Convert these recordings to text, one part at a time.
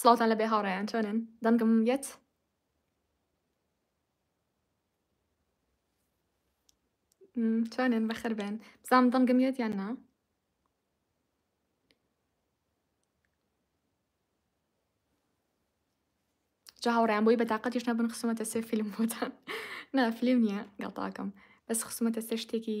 سڵاوتان لەبێ هاوڕێیان چۆنن دەنگم یەت چۆنن بەخر بێن بزانم دەنگم یەت یان نا جا هاوڕیان بۆی بەتاقەتیش نەبن خسومەتە سێ فیلم بۆتان نا فیلم نییە گەڵتاکەم بەس خسومەتە سێ شتێکی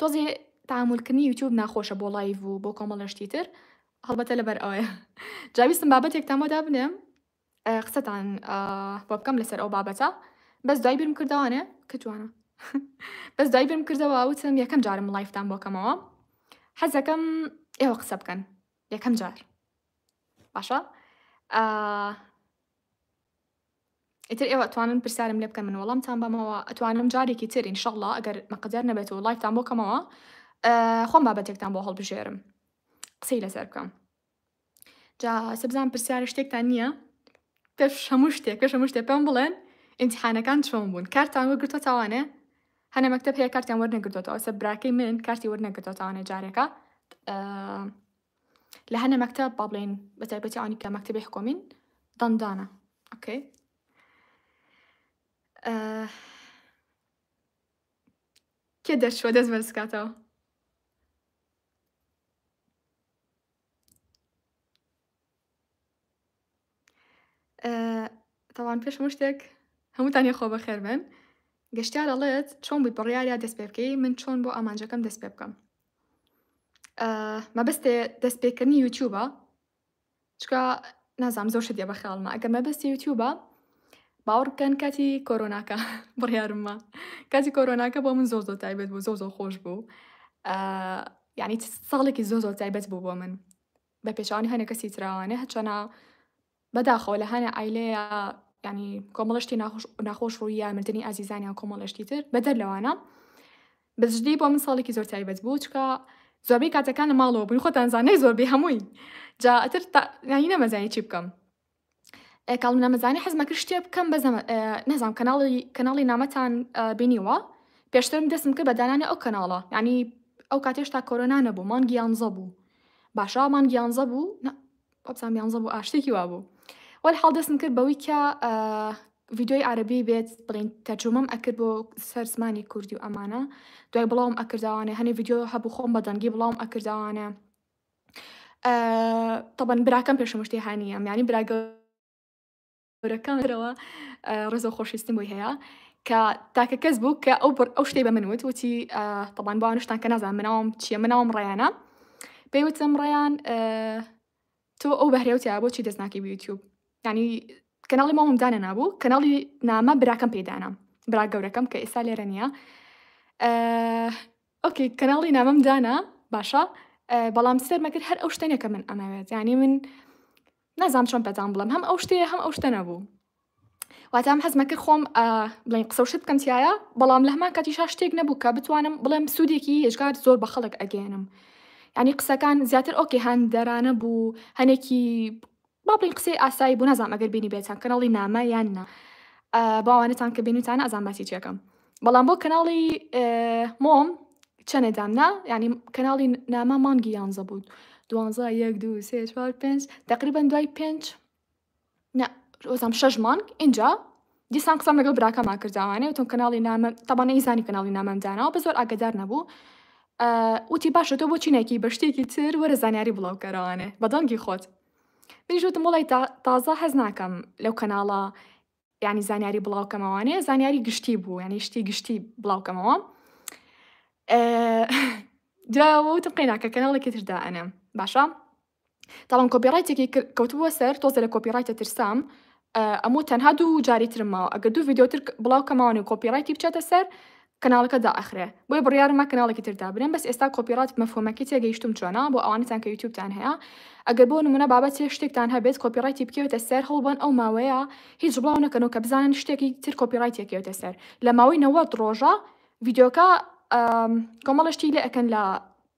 تۆزێ تەعامول کردنی یوتوب ناخۆشە بۆ ڵایڤ و بۆ کۆمەڵە شتی تر هەڵبەتە لەبەر ئەوەیە جا ویستم بابەتێکتان بۆ دابنێم ئە، قسەتان ئە، بۆ بکەم لەسەر ئەو بابەتە بەس دوای بیرم کردەوانێ کە جوانە بەس دوای بیرم کردەوە وتم یەکەم جارم ڵایفتان بۆ کەمەوە حەزەکەم ئێوە قسە بکەن یەکەم جار باشە ئە، ئیتر ئێوە ئەتوانن پرسیارم لێبکەن من وەڵامتان بەمەوە ئەتوانم جارێکی تر ئینشەڵڵا ئەگەر مەقدەر نەبێت و لایفتان بۆ کەمەوە خۆم بابەتێکتان بۆ هەڵبژێرم قسەی لەسەر بکەم جا سەبزان پرسیارە شتێکتان نییە پێش هەموو شتێک پێش هەموو شتێ پێم بڵێن ئینتحانەکان چۆن بوون کارتان وەگرتۆ تاوانێ هەنە مەکتب هەیە کارتیان وەرنەگرتۆتەوە سە براکەی من کارتی وەرنەگرتۆ تاوانە جارێکە لە هەنە مەکتەب با بڵێین بە تایبەتی ئەوانی کە مەکتەبی حکۆمین دەندانە ئۆکەی کێ دەرچوە دەست بەرزکاتەوە تاوان پێش مشتێک هەمووتان یە خۆ بەخێر بن گەشتار ئەڵێت چۆن بووی بڕیارە دەست پێ بکەی من چۆن بۆ ئامانجەکەم دەست پێ بکەم مەبەستێ دەست پێکردنی یوتیوبە چکە نازام زۆر شتێ بە خیاڵمە ئەگەر مەبەستی یوتیوبە باوەڕ بکەن کاتی کۆرۆناکە بڕیارمە کاتی کۆرۆناکە بۆ من زۆر زۆر تایبەت بوو زۆر زۆر خۆش بوو یعنی ساڵێکی زۆر زۆر تایبەت بوو بۆ من بە پێچەوانەی هەنێ کەسی ترا نە هەچەنە بەداخەوە لە هەنە ئایلەیە ینی کۆمەڵشتی ناخۆش ناخۆش ڕوویە مردنی ئازیزانیان کۆمەڵشتی تر بەدەر لەوانە بەجدی بۆ من ساڵێکی زۆر تایبەت بوو چکە زۆربەی کاتەکان لە ماڵەوە بووین خۆتانزانای زۆربەی هەمووی جا ئەتر ناهی نەمەزانی چی بکەم کاڵ نەمەزانی حەزم کرد شتێ بکەم بەزە نەزانام کەناڵی کەناڵی نامەتان بینیوە پێشترم دەستم کرد بە دانانی ئەو کەناڵە ینی ئەو کاتێش تا کۆرۆنا نەبوو مانگیانزە بوو باشە مانگیانزە بوو ئەبسان یانزە بوو ئاشتێکی وا بوو وەل حاڵ دەستم کرد بەوەی کە ڤیددیوی عربی بێت بڵین تەجومم ئەکرد بۆ سەر زمانی کوردی و ئەمانە دوای بڵاوم ئەکردوانە هەنێ ڤیددیو هەبوو خۆم بەدەنگی بڵاوم ئەکردوانە تەبەن براکەم پێشمە شتێ هاانیە میانی براگەورەکەمەوە ڕێزە خۆشویستم بۆی هەیە کە تاکە کەس بوو کە ئەو بڕ ئەو شتەی بە من وت وتی تەبان بۆ نیشتان کە نازان مناوم چیە مناوم ڕیانە پێی وتم ڕیان تۆ ئەو بەهرێوتیا بۆچی دەستناکی یوتیوب ینی کەناڵی ماوم دانە نابوو کەناڵی نامە براکەم پێدانە برا گەورەکەم کە ئێستا لێرە نییە ئۆکەی کەناڵی نامەم دانا باشە بەڵام سێر مەکرد هەر ئەو شتێنێکە من ئەمەوێت ینی من نازام چۆن پەتان بڵم هەم ئەو شتەیە هەم ئەو شتە نەبوو واتام حەزمە کرد خۆم بڵین قسە شت بکەم تایە بەڵام لە هەمان کاتی شا شتێک نەبوو کە بتوانم بڵێم سوودێکی هێشگار زۆر بە خەڵک ئەگەێنم ینی قسەکان زیاتر ئۆکێ هەندەرانە بوو هەنێکی با بڵین قسەی ئاسایی بوو نازام ئەگەر بینیبێتان کەناڵی نامە یان نا با ئەوانەتان کە بینوتانە ئەزان باسی چیەکەم بەڵام بۆ کەناڵی مۆم چەنێ دامنا ینی کەناڵی نامە مانگی یانزە بوو دوانزە یەک دو سێ چوار پێنج تقریبان دوای پێنج ئۆزام شەش مانگ اینجا دیسان قسەم لەگەڵ براکەما کرد جاوانێ وتم کەناڵی نامە تەبا نەیزانی کەناڵی نامەم داناوە بە زۆر ئاگدار نەبوو وتی باشە تۆ بۆ چینێکی بە شتێکی تر وەرە زانیاری بڵاوکەرەوانێ بە دەنگی خۆت منیش وتم وڵی تازە هەز ناکەم لەو کەناڵە ینی زانیاری بڵاوکەمەوانێ زانیاری گشتی بوو ینی شتی گشتی بڵاوکەمەوە جاوەوتم قەیناکە کەناڵێکی تردا ئەنێم باشە تاڵم کۆپی ڕایتێکی کر کەوتبووە سەر تۆزێ لە کۆپی ڕایتە ترسام ئەموو تەنها دوو جاری ترم ماوە ئەگەر دوو ڤیدیۆ تر بڵاو کەمەوەنێ و کۆپی ڕایتی بچێتە سەر کەناڵەکە دائەخرێ بۆیە بڕیارمە کەناڵێکی تر دابنێم بەس ئێستا کۆپی ڕات مەفهومەکەی تێگەیشتووم چۆنە بۆ ئەوانەتان کە یوتیوبتان هەیە ئەگەر بۆ نموونە بابەتێ شتێکتان هەبێت کۆپی ڕایتی بکەوێتە سەر هەوڵبەن ئەو ماوەیە هیچ بڵاو نەکەنەوە کە بزانن شتێکی تر کۆپی ڕایت یەکەوێتە سەر لە ماوەی نەوەد ڕۆژە ڤیدیۆکە کۆمەڵە شتی لێ ئەکەن لە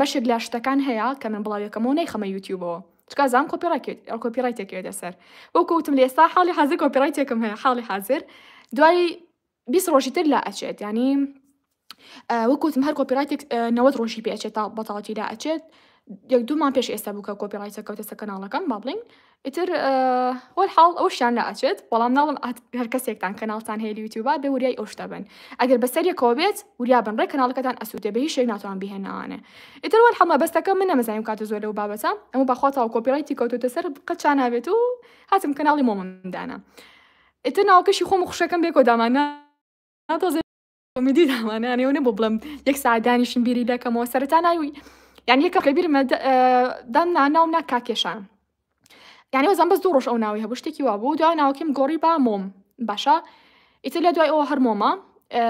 بەشێک لە شتەکان هەیە کە من بڵاوی ئەکەمەوە نایخەمە یوتیوبەوە چونکە ئەزانم کۆپیڕایت تێکەوێتە سەر وەکو وتم لە ئێستا حاڵی حازر کۆپیڕایتێکم هەیە حاڵی حازر دوای بیست ڕۆژی تر لا ئەچێت ینی وەکوتم هەر کۆپیڕایتێک نەوەت ڕۆژی پێچێت تا بەتاڵەتی لا ئەچێت یەک دوومان پێش ئێستا بوو کە کۆپیڕایتە کەوتەسە کەناڵەکەم با بڵین ئیتر وەلحاڵ ئەوشیان لە ئەچێت بەڵام ناڵم هەر کەسێکتان کەناڵتان هەیە لە یوتیوبا بێ وریای ئەو شتە بن ئەگەر بەسەریەکەوە بێت وریا بن ڕێک کەناڵەکەتان ئەسووتێ بە هیچ شێک ناتوان بهێنانێ ئیتر وەلحاڵ مەبەستەکە من نەمەزانیم کاتە زۆر لەو بابەتە ئەمە بەخواتەوە کۆپیڕایتی کەوتوتە سەر قەت چا نابێت و هاتم کەناڵی مۆمندانە ئیتر ناوکەشی خۆم و خوشەکەم بێکۆ دامانە ناتۆزێ کۆمیدی دامانانێ ئەوە نەبوو بڵێم یەک ساعەت دانیشم بیری دەکەمەوە سەرەتا ناوی یان یەکە لە بیرمە دە- ئە، دام نا ناوم نا کاکێشان یعنی وەزان بەس دوو ڕۆژ ئەو ناوی هەبوو شتێکی وا بوو دوای ناوکیم گۆڕی با مۆم باشە ئیتر لە دوای ئەوە هەر مۆمە ئە،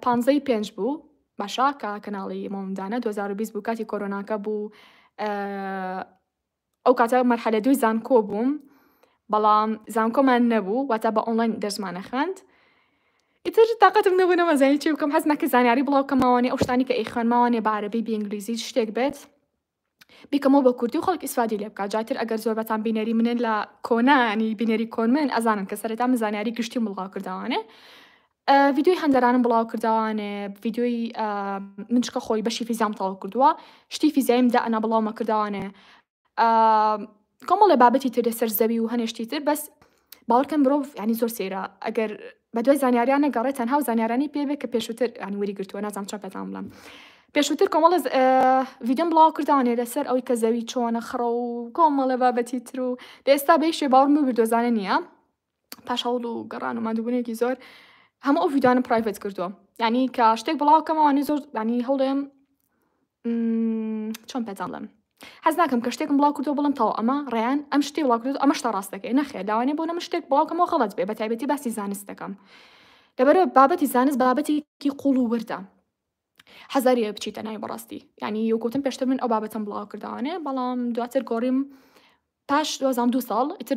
پانزەی پێنج بوو باشە کە کەناڵی مۆمدانە 2020 بوو کاتی کۆرۆناکە بوو ئە، ئەو کاتە مەرحەلە دووی زانکۆ بووم بەڵام زانکۆمان نەبوو واتا بە ئۆنلاین دەرسمانە خوێند ئیتر تااقەتم نەبوو نەمەزانی چی بکەم حەز نەکە زانیاری بڵاوکە ماوانێ ئەو شتانی کە ئەی خوێن ماوانێ بە عربی بینگلیزی شتێک بێت بیکەمەوە بە کوردی و خەڵک ئیسفادی لێ بکات جاتر ئەگەر زۆر بەتان بینەری منن لە کۆنانی بینەری کۆن من ئەزانن کە سەرەتا من زانیاری گشتی مڵاو کردوانێ ڤیدیۆی هەندەرانم بڵاو کردەوە نێ ڤیدیۆی من چکە خۆی بەشی فیزام تەواو کردووە شتی فیزیایم دا ئەنا بڵاومە کردەوە نێ کۆمەڵێ بابەتی تر لەسەر زەوی و هەنێشتی تر بەس باوەڕکەن مرۆڤ ینی زۆر سێرە ئەگەر بە دوای زانیاریان نەگەڕێت تەنها و زانیارانی پێ بێت کە پێشووتر ینی وەری گرتووە نازانم چا پێتان بڵم پێشووتر کۆمەڵە ڤیددیۆم بڵاو کردوانێ لەسەر ئەوی کە زەوی چۆنە خڕە و کۆمەڵە بابەتی تر و لە ئێستا بەیشێ باوەڕم ببردۆزانە نییە پاش هەوڵ و گەڕان و مادوبوونێکی زۆر هەموو ئەو ڤیددانم پرایڤەت کردووە ینی کە شتێک بڵاوکەمەوانی زۆر ینی هەوڵێم چۆن پێتاڵم حەز ناکەم کە شتێکم بڵاو کردو بڵم تاو ئەمە ڕێیان ئەم شتی وڵاکرد ئەمە شتا ڕاستەکەی نەخێ داوانێ بۆ نەم شتێک بڵاوکەمەوە غڵەت بێ بە تایبەتی باسی زانست دەکەم لەبەرەوە بابەتی زانست بابەتێکی قوڵ و وردە حەزاریە بچیتە ناوی بەڕاستی ینی یوگوتم پێشتر من ئەو بابەتم بڵاو کردوانێ بەڵام دواتر گۆڕیم پاش دوازان دو ساڵ ئیتر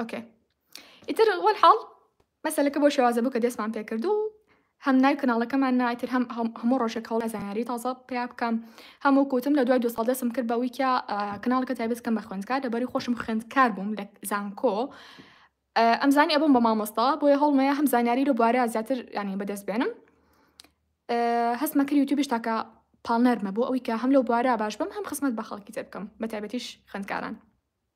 ئۆکێ ئیتر وەل حاڵ مەسەلەکە بۆ شێوازە بوو کە دەستمان پێکرد و هەم نای کەناڵەکەمان نایتر هەم هەموو ڕۆژێک هەوڵ زانیاری تازە پیا بکەم هەموو کوتم لە دوای دو ساڵ دەستم کرد بە ویکیا کەناڵەکە تایبەت کەم بە خوێندکار لەبەری خۆشم خوێندکار بووم لە زانکۆ ئەمزانی ئەبووم بە مامۆستا بۆیە هەڵمەیە هەم زانیاری لە بوارە زیاتر ینی بەدەست بێنم هەستمە کرد یوتیوبش تاکە پاڵنەرمە بۆ ئەوی کە هەم لەو بوارە باش بم هەم خسمەت بە خەڵکی تر بکەم بە تایبەتیش خوێندکاران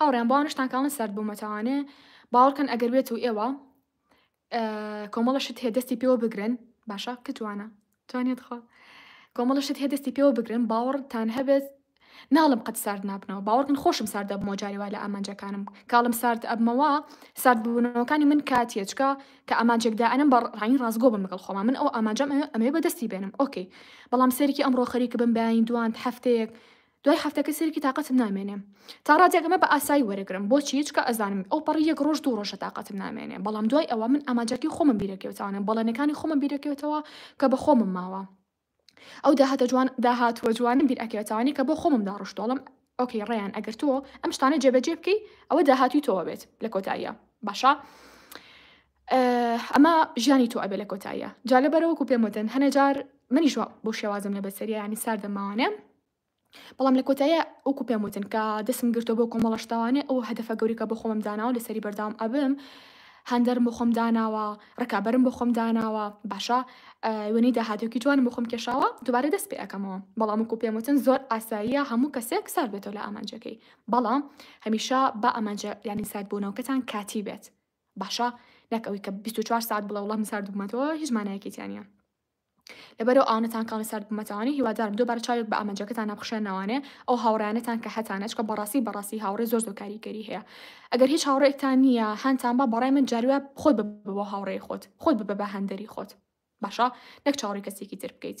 هاوڕێیان بۆ ئەوانەشتان کاڵن سارد بوومەتەوانێ باوەڕکەن ئەگەر بێت و ئێوە کۆمەڵە شت هەیە دەستی پێوە بگرن باشە کتوانە توانێت خۆ کۆمەڵە شت هەیە دەستی پێوە بگرن باوەڕتان هەبێت ناڵم قەت سارد نابنەوە باوەڕکن خۆشم سارد دەبمەوە جارێوا لە ئامانجەکانم کاڵم سارد ئەبمەوە سارد بوونەوەکانی من کاتیەچکە کە ئامانجێکدا ئەنم بە ڕانی ڕاستگۆ بم لەگەڵ خۆما من ئەو ئامانجەم ئەمێ بەدەستی بێنم ئۆکەی بەڵام سەرکی ئەمڕۆ خەریکە بم بەین دوان هەفتەیەک دوای حەفتەکە سەیرکی تاقەتم نامێنێ تا ڕادەیەک ئەمە بە ئاسایی وەرەگرم بۆچی چکە ئەزانم ئەو پەڕی یەک ڕۆژ دوو ڕۆژە تاقەتم نامێنێ بەڵام دوای ئەوە من ئامانجەکەی خۆمم بیرەکەوتەوانە بەڵێنەکانی خۆمم بیرەکەوتەوە کە بە خۆمم ماوە ئەو داهاتە جوان داهاتوە جوانم بیر ئەکەوتوانی کە بۆ خۆمم داڕشتۆڵم ئۆکەی ڕێیان ئەگەر تۆ ئەم شتانە جێبەجێ بکەی ئەوە داهاتوی تۆوە بێت لە کۆتاییە باشە ئه ئەمە ژیانی تۆ ئەبێ لە کۆتاییا جا لەبەرە وەکو پێم وتن هەنێ جار منیش وا بەو شێوازەم لە بەسەریە یانی ساردە ماوانێ بەڵام لە کۆتاییا وەکو پێم وتن کە دەسم گرتۆ بۆ کۆمەڵە شتاوانێ ئەو هەدەفە گەوریکە بۆ خۆمم داناوە لەسەری بەردەوام ئەبم هاندەرم بۆ خۆم داناوە ڕکابەرم بۆ خۆم داناوە باشە ئه وێنەی داهاتێکی جوانم بۆ خۆم کێشاوە دوبارە دەست پێ ئەکەمەوە بەڵام وەکو پێم وتن زۆر ئاساییە هەموو کەسێک سارد بێتەوە لە ئامانجەکەی بەڵام هەمیشە با ئامانجە یانی ساردبوونەوەکەتان کاتی بێت باشە نەک ئەوی کە 24 ساعت بڵێ وڵام سارد بوومەتەوە هیچ مانایەکی تیانە لەبەرەوە ئاونەتان کاڵە سارد بوومەتەوانی هیوادارم دووبارە چاوێک بە ئامانجەکەتان نەبخشێن ناوانێ ئەو هاوڕیانەتان کە هەتانە چکە بەڕاستی بەڕاستی هاوڕێ زۆر زۆر کاریگەری هەیە ئەگەر هیچ هاوڕێکتان نییە هەانتان بە بەڕای من جاروە خۆت بە هاوڕێی خۆت خۆت بە بە هەندەری خۆت باشە نەک چاوڕی کەسێکی تر بکەیت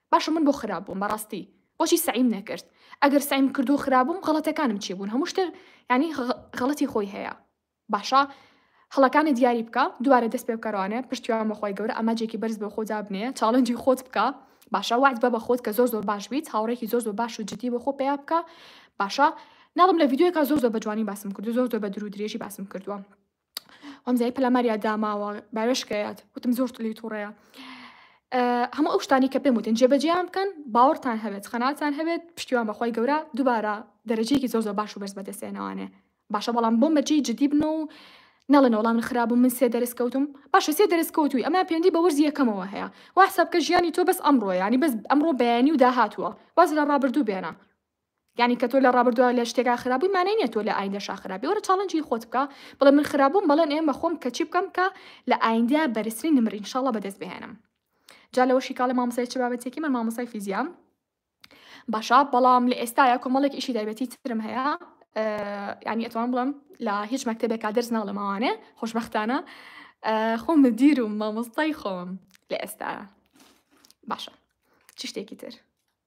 باشە من بۆ خراپ بووم بەڕاستی بۆچی سەعیم نەکرد ئەگەر سەعیم کردو خراپ بووم غەڵەتەکانم چی بوون هەموو شتێک یانی غەڵەتی خۆی هەیە باشە هەڵەکانت دیاری بکە دوبارە دەست پێ بکەرانێ پشتیوان بەخوای گەورە ئاماجێکی بەرز بۆ خۆ دابنێ چاڵنجی خۆت بکە باشە وعد بە بە خۆت کە زۆر زۆر باش بیت هاوڕێکی زۆر زۆر باش و جدی بۆ خۆ پیا بکە باشە ناڵم لە ڤیددیوەکە زۆر زۆر بە جوانی باسم کردو زۆر زۆر بە درو درێژی باسم کردووە هەمزای پەلاماریا داماوە باوێشکەیات وتم زۆر لی تووڕەیە هەموو ئەو شتانی کە پێم وتن جێبەجیان بکەن باوەڕتان هەبێت خەناتان هەبێت پشتیوان بەخوای گەورە دووبارە دەرەجەیەکی زۆ زۆ باش و بەرز بەدەستێنەوانێ باشە بەڵام بۆ مەرجی جدی بن و نەڵێن وەڵام خراپ و من سێ دەرس کەوتم باشە سێ دەرس کەوتوی ئەمە پێندی بە وەرزی یەکەمەوە هەیە واساب کە ژیانی تۆ بەس ئەمڕۆ ینی بەس ئەمڕۆ بەیانی و داهاتوە باز لە ڕابردوو بێنە یانی کە تۆ لە ڕابردوا لە شتێکا خراپ بووی مانای نیە تۆ لە ئایندەشا خراپ بی وەرە چاڵنجی خۆت بکە بڵێ من خراپ بووم بەڵێن ئێم بە خۆم کە چی بکەم کە لە ئایندە بەرزترین نمرە ان شاء الله بەدەست بهێنم جا لەوەشی کاڵە مامۆسای چ بابەتێکی من مامۆسای فیزیام باشە بەڵام لە ئێستاە کۆمەڵێک ئیشی دایبەتی ترم هەیە ینی ئەتوان بڵم لە هیچ مەکتتەبێکا دەرس ناڵە ماوانێ خۆشببختانە خۆم مدیر و مامۆستای خۆم لە ئێستا باشە چ شتێکی تر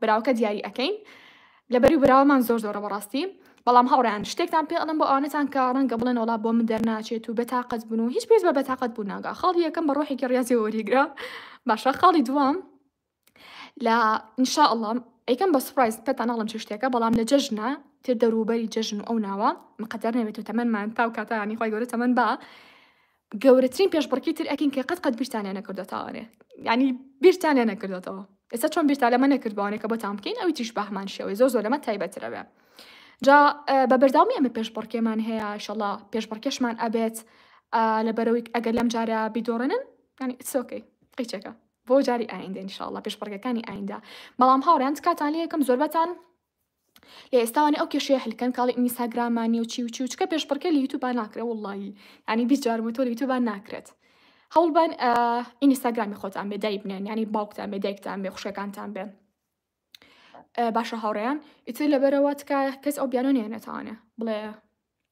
براوەکە دیاری ئەکەین لەبەری براوەمان زۆر زۆرە بەڕاستی بەڵام هاوڕیان شتێکتان پێ ئەڵم بۆ ئەوانەتان کە ڕەنگە بڵێن وڵا بۆ من دەرناچێت و بەتاقەت بوون و هیچ پێز بە بەتاقەت بوو ناگا خاڵی یەکەم بە ڕۆحێکی ڕاستێ وەریگرە باشە خاڵی دوام لە انشاء الله ئەیکەم بە سپایس پێتان ناڵم چ شتێکە بەڵام لە جەژنە تێ دەروبەری جەژن و ئەو ناوە مقدر نەبێت و تەمەمان تاو کاتانی خۆی گەورە تەمەەن بە گەورەترین پێشبڕکی تر ئەکەین کە قەت قەت بیرتانیان نەکردۆتاوانێ یعنی بیرتانیان نەکردۆتەوە ئێستا چۆن بیرتا لەمە نەکردوانێ کە بۆتان بکەین ئەوی تیش بەهمان شێوەی زۆر زۆر لەمە تایبەترەوێ جا بە بەرداومی ئەمە پێشبڕکێمان هەیە شەڵا پێشبڕکێشمان ئەبێت لە بەرەوەی ئەگەر لەم جارە بیدۆڕێنن ینی سۆکەی قیچەکە بۆ جاری ئایندە انشاءله پێشبڕگەکانی ئایندا بەڵام هاوڕیان کاتان لە یەکەم زۆربەتان لە ئێستاوانێ ئەو کێشەیە حلکەن کاڵی ئینیساگراما نیو چی و چی و چکە پێشبڕکێ لە یوتوبا ناکرێ واللهی ینی بیست جار وتۆ لە یوتوبا ناکرێت هەوڵبان ئینیساگرامی خۆتان بێ دای بنێن ینی باوکتان بێ دایکتان بێ خوشەکانتان بێ باشە هاوڕێیان ئیتر لەبەرەوە تکایە کەس ئەو بیانۆ نێنێتوانێ بڵێ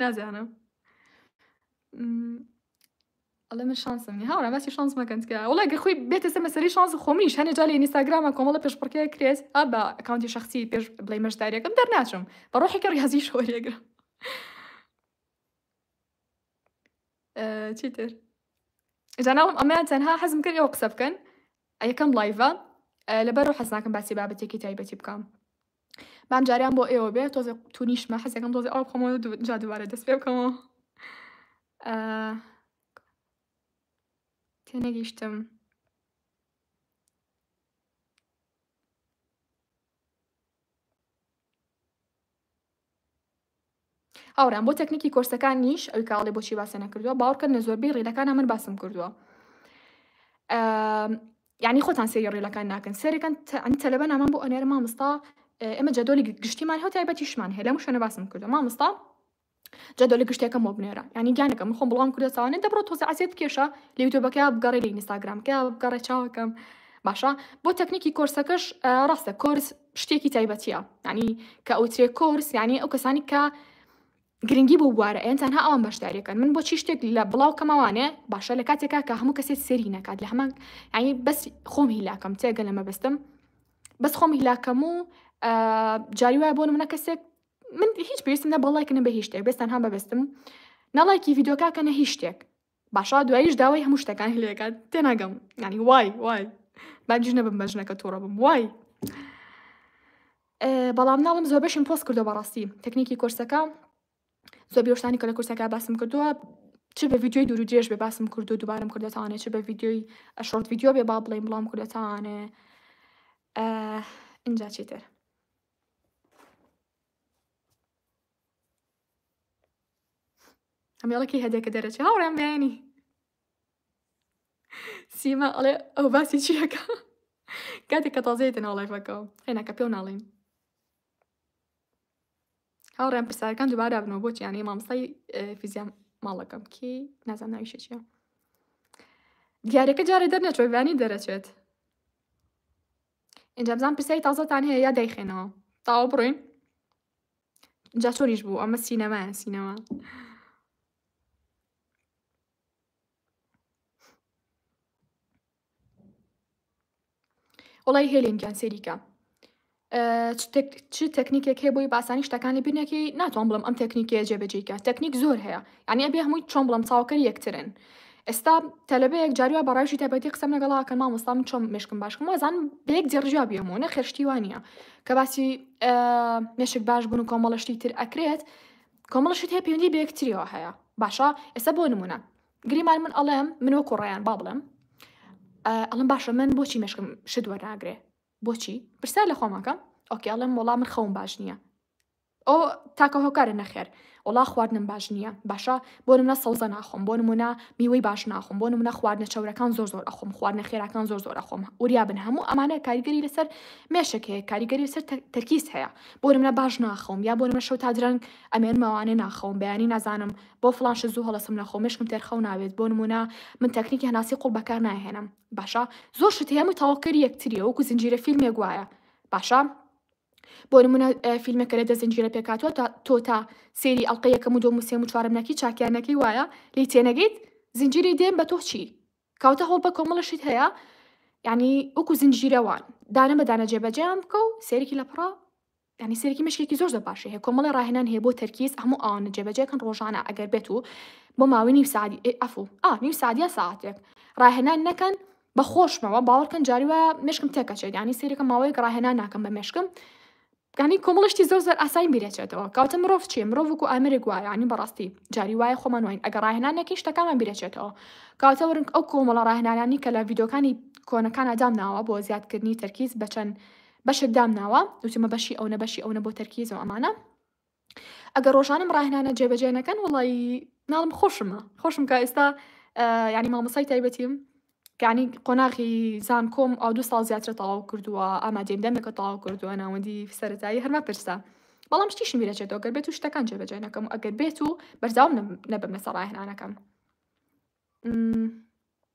نازانم ئەڵێ من شانسم نیە هاوڕێ باسی شانس مەکەن تکە وڵای گە خۆی بێتە سەر مەسەری شانس خۆمیش هەنێ جا لە ئینستاگرامە کۆمەڵە پێش پڕکێ کرێت ئا بە ئەکاونتی شخصی پێش بڵێ مەشداریەکەم دەرناچم بە ڕۆحێکی ڕیازی شۆرێگرم چیتر جاناوم ئەمەیان تەنها حەزم کرد ئەوە قسە بکەن یەکەم لایڤە لەبەر حەزناکەم باسی بابەتێکی تایبەتی بکەم بام جاریان بۆ ئێوە بێ تۆزێ تونیشمە حەزەکەم تۆزێ ئەو بخۆمەوە جا دووارە دەست پێ بکەمەوە تێنەگەیشتم هاوڕێیان بۆ تەکنیکی کۆرسەکانیش ئەوی کاڵێ بۆچی باسە نەکردووە باوڕکەن لە زۆربەی ڕیلەکانە من باسم کردووە یعنی خۆتان سێری ڕیلەکان ناکەن سێرەکەن ئەنی تەلەبە نامان بۆ ئەنێرە مامستا ئێمە جەدۆلی گشتیمان هەو تایبەتیشمان هەیە لە مشەنە باسم کردو مامستا جەدۆلی گشتەکەم بۆ بنێرە ینی گیانەکە من خۆم بڵام کردە ساوانە دەبڕۆ تۆزە عزیێت کێشە لە یوتۆبەکە بگەڕێ لە ئینستاگرامکە بگەڕێ چاوەکەم باشە بۆ تەکنیکی کۆرسەکەش ڕاستە کۆرس شتێکی تایبەتیە یانی کە ئەوترێ کۆرس یانی ئەو کەسانی کە گرنگی بۆ بوارە ئەن تەنها ئەوان بەشداریەکەن من بۆچی شتێک لە بڵاو کەمەوانێ باشە لە کاتێکا کە هەموو کەسێت سێری نکات لە هەمان ینی بەس خۆم هیلاکەم تێگە لەمە بەستم بەس خۆم هیلاکەم و جاری وایە بۆ منە کەسێک من هیچ پێویستم نە بەڵایکە نە بە هیچ شتێک بێستان هەم بەبستم نەڵایکی یددیوکە کە نە هیچ شتێک باشە دوایش داوای هەموو شتەکانی لێکات تێناگەم ینی وای وای باگیش نەبم بە ژنەکە تووڕە بم وای بەڵام ناڵم زۆر بەشم پۆست کردو بەڕاستی تەکنیکی کۆرسەکە زۆر بێشتانی کە لە کورسەکە باسم کردووە چ بە ویددیوی دوور درێژ بێ باسم کردو دوبارم کردێتوانێت چ بە ویددیوی ئەشۆرت ویددیو بێ با بڵێم بڵام کردێتوانێ ئینجا چیتر ئەمێڵە کەی هەدەکە دەرەچێ هاوڕێم بەیانی سیما ئەڵێ ئەو باسی چیەکە کاتێک کە تازەیە دەناو لایفەکەەوە هێناکە پێ و ناڵین هاوڕێن پرسارەکان دوبارە بنەوە بۆچی یانەی مامسای فیزیام ماڵەکەم کی نازان ناویشە چیە دیارەکە جارێ دەرنەچۆیبانی دەرەچێت ئینجامزان پرسیای تازەتان هەیە یا دایخێنەوە تاوا بڕین جا چۆنیش بوو ئەمە سینەمایە سینەما وڵی هێلین گیان سەریکە چ تەکنیکێک هەیە بۆی باسانی شتەکانی بینەکەی ناتوان بڵم ئەم تەکنیکە جێبەجێکە تەکنیک زۆر هەیە یعنی ئەبێ هەمووی چۆن بڵم چاوکەر یەکترن ئێستا تەلەبەیەک جاروای بە ڕایشی تایبەتی قسەم لەگەڵا کە مامۆستا من چۆم مشکم باشکم وازان بە یەک جێڕژا بێمەوە نە خێشتی وانە کە باسی مشک باش بوون و کۆمەڵشتی تر ئەکرێت کۆمەڵشت هەیە پێوەندی بە یەکتریەوە هەیە باشە ئێستا بۆ نمونە گریمان من ئەڵێم من وەکو ڕایان با بڵێم ئەڵم باشە من بۆچی مشکم شت وەرناگرێ بۆچی پرسیار لە خۆمەکەم ئۆکیڵم وەڵام من خەوم باش نییە ئۆ تاکە هۆکارە نەخێر. وەڵا خواردنم باش نیە باشە بۆ نمونە سەوزە ناخۆم بۆ نمونە میوەی باش ناخۆم بۆ نمونە خواردنە چەورەکان زۆر زۆر ئەخۆم خواردنە خێراکان زۆر زۆر ئەخۆم وریابن هەموو ئەمانە کاریگەری لەسەر مێشک هەیە کاریگەری لەسەر تەرکیز هەیە بۆ نمونە باش ناخەوم یا بۆ نمونە شەو تا درەنگ ئەمێنمەوانێ ناخەوم بەیانی نازانم بۆ فڵان شت زوو هەڵەسم نەخۆم مێشکم تێر خەو ناوێت بۆ نمونە من تەکنیکی هەناسی قوڵ بەکار ناهێنم باشە زۆر شت هەیە هەمووی تەواوکەری یەکتریە وەکو زنجیرە فیلمێک وایە باشە بۆ نمونە فیلمێکە لە دە زنجیرە پێکهاتوە تا تۆ تا سێری ئەڵقە یەکەم و دۆم و سێم و چوارەم نەکی چاکیان نەکەی وایە لی تێنەگەیت زنجیری دێم بە تۆ چی کاوتە هەوڵ بە کۆمەڵە شت هەیە ینی وەکو زنجیرەوان دانە بە دانە جێبەجیان بکە و سێرکی لە پڕا ینی سێرکی مشکێکی زۆر زۆر باشی هەیە کۆمەڵی ڕاهێنان هەیە بۆ تەرکیز هەموو ئەوانە جێبەجێکن ڕۆژانە ئەگەر بێت و بۆ ماوەی نیو سعدی ئەفو ئا نیو سعدیا ساعتێک ڕاهێنان نەکەن بە خۆشمەوە باوەڕکەن جاری وایە مشکم تێکەچێت یعنی سەیرەکە ماوەیەک ڕاهێنان ناکەم بە مشکم گانی کۆمەڵی شتی زۆر زۆر ئاسایی بیرەچێتەوە کەواتە مرۆڤ چیە مرۆڤ وەکو ئامێرێک وایە یعنی بەڕاستی جاری وایە خۆمان واین ئەگەر ڕاهێنان نەکەین شتەکانمان بیرەچێتەوە کەواتە وەرن ئەو کۆمەڵە ڕاهێنانانی کە لە ڤیدۆکانی کۆنەکان ئەدامناوە بۆ زیادکردنی تەرکیز بە چەند بەشێک دامناوە وتومە بەشی ئەونە بەشی ئەونە بۆ تەرکیز و ئەمانە ئەگەر ڕۆژانەم ڕاهنانە جێبەجێ نەکەن وڵی ناڵم خۆشمە خۆشم کە ئێستا ینی مامەسای تایبەتیم کانی قۆناغی زان کۆم ئەو دو ساڵ زیاترە تەواو کردووە ئامادەیم دەمێکە تەواو کردووە ناوەندی سەرەتایی هەرما پرسە بەڵام شتیشی میرەچێتەوە گەر بێت و شتەکان جێبەجێ نەکەم و ئەگەر بێت و بەرزاوم نەبم لەسەر ڕاهێنانەکەم.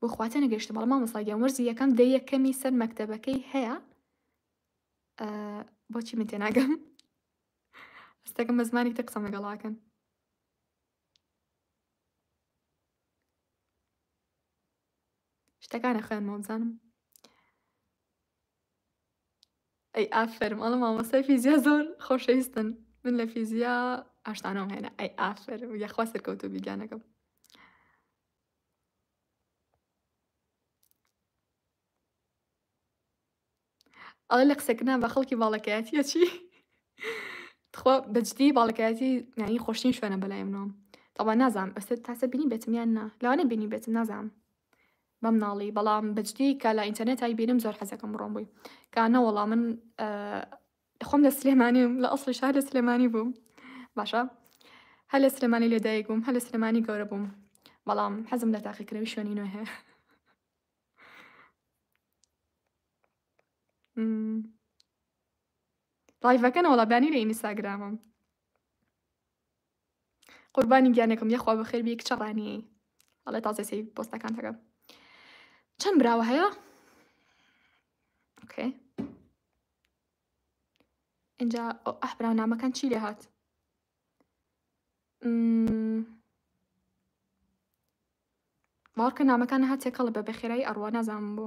بۆ خواتە نەگەشتە بەڵام مامۆستا گیان وەرزی یەکەم دە یەکەمی سەر مەکتەبەکەی هەیە بۆچی من تێناگەم ئەستەکەم بە زمانی تە قسەم لەگەڵاکەن شتەکانە خوێنمەوە بزانم ئەی ئافەرم ئەڵە مامۆستای فیزیا زۆر خۆشەویستن من لە فیزیا ئاشتانەوەم هێنا ئەی ئافەرم یاخوا سەرکەوتو بیگانەکەم ئەڵە لە قسەکردنا بە خەڵکی باڵەکەیەتیە چی تخوا بەجدی باڵەکەیەتی نانی خۆشتین شوێنە بەلای منەوە تەوا نازانم ئەستا تاسە بینی بێتم یان نا لەوانەیە بینی بێتم نازانم بەمناڵی بەڵام بەجدی کە لە ئینتەرنێتای بینم زۆر حەزەکەم بڕۆم بووی کا نەوەڵا من خۆم لە سلێمانیم لە ئەسڵی شار لە سلێمانی بووم باشە هەر لە سلێمانی لێدایک بووم هەر لە سلێمانی گەورە بووم بەڵام حەزم لە تاقیکردنەوەی شوێنی نوێ هەیە ڕایڤەکەنەوەڵا بانی لە ئینیساگرامم قوربانی گیانەکەم یەخوا بەخێر بی کچە ڕانیەی ئەڵێ تازە سەی پۆستەکان تەکەم چەند براوە هەیە ئۆکێ اینجا ئەح براو نامەکان چی لێ هات باوەڕکە نامەکان هاتێکەڵە بە بەخێرایی ئەڕوە نازانم بۆ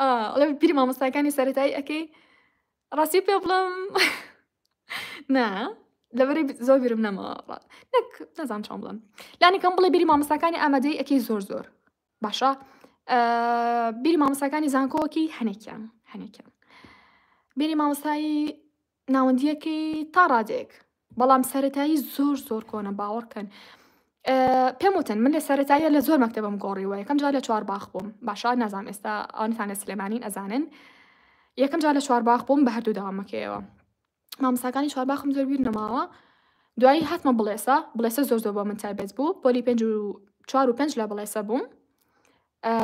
ئەڵێ بیری مامۆستاکانی سەتایی ئەەکەی ڕاستی پێ بڵم نا لەبەری زۆر بیرم نەمەوە نەک نەزان چۆن بڵم لانیکەم بڵێ بیری مامۆستاکانی ئامادەی ئەەکەی زۆر زۆر باشە بیری مامۆستاکانی زانکۆکی هەنێکیان هەنێکیان بیری مامۆستایی ناوەندیەکەی تا ڕادەیەک بەڵام سەتایی زۆر زۆر کۆنە باوەڕکەن پێم وتن من لە سەتاییە لە زۆر مەکتتەبم گۆڕیوە یەکەم جار لە چوار باخ بووم باشا نازانام ئێستا ئەوانتان لە سلێمانین ئەزانن یەکەم جار لە چوار باخ بووم بە هەردوو داوامەکەیەوە مامساکانی چوار باخم زۆر بیر نەماوە دوایی هاتمە بڵێسە بڵێسە زۆر زۆر بۆ من تایبەت بوو پۆلی پێنج و چوار و پێنج لە بڵێسە بووم ئە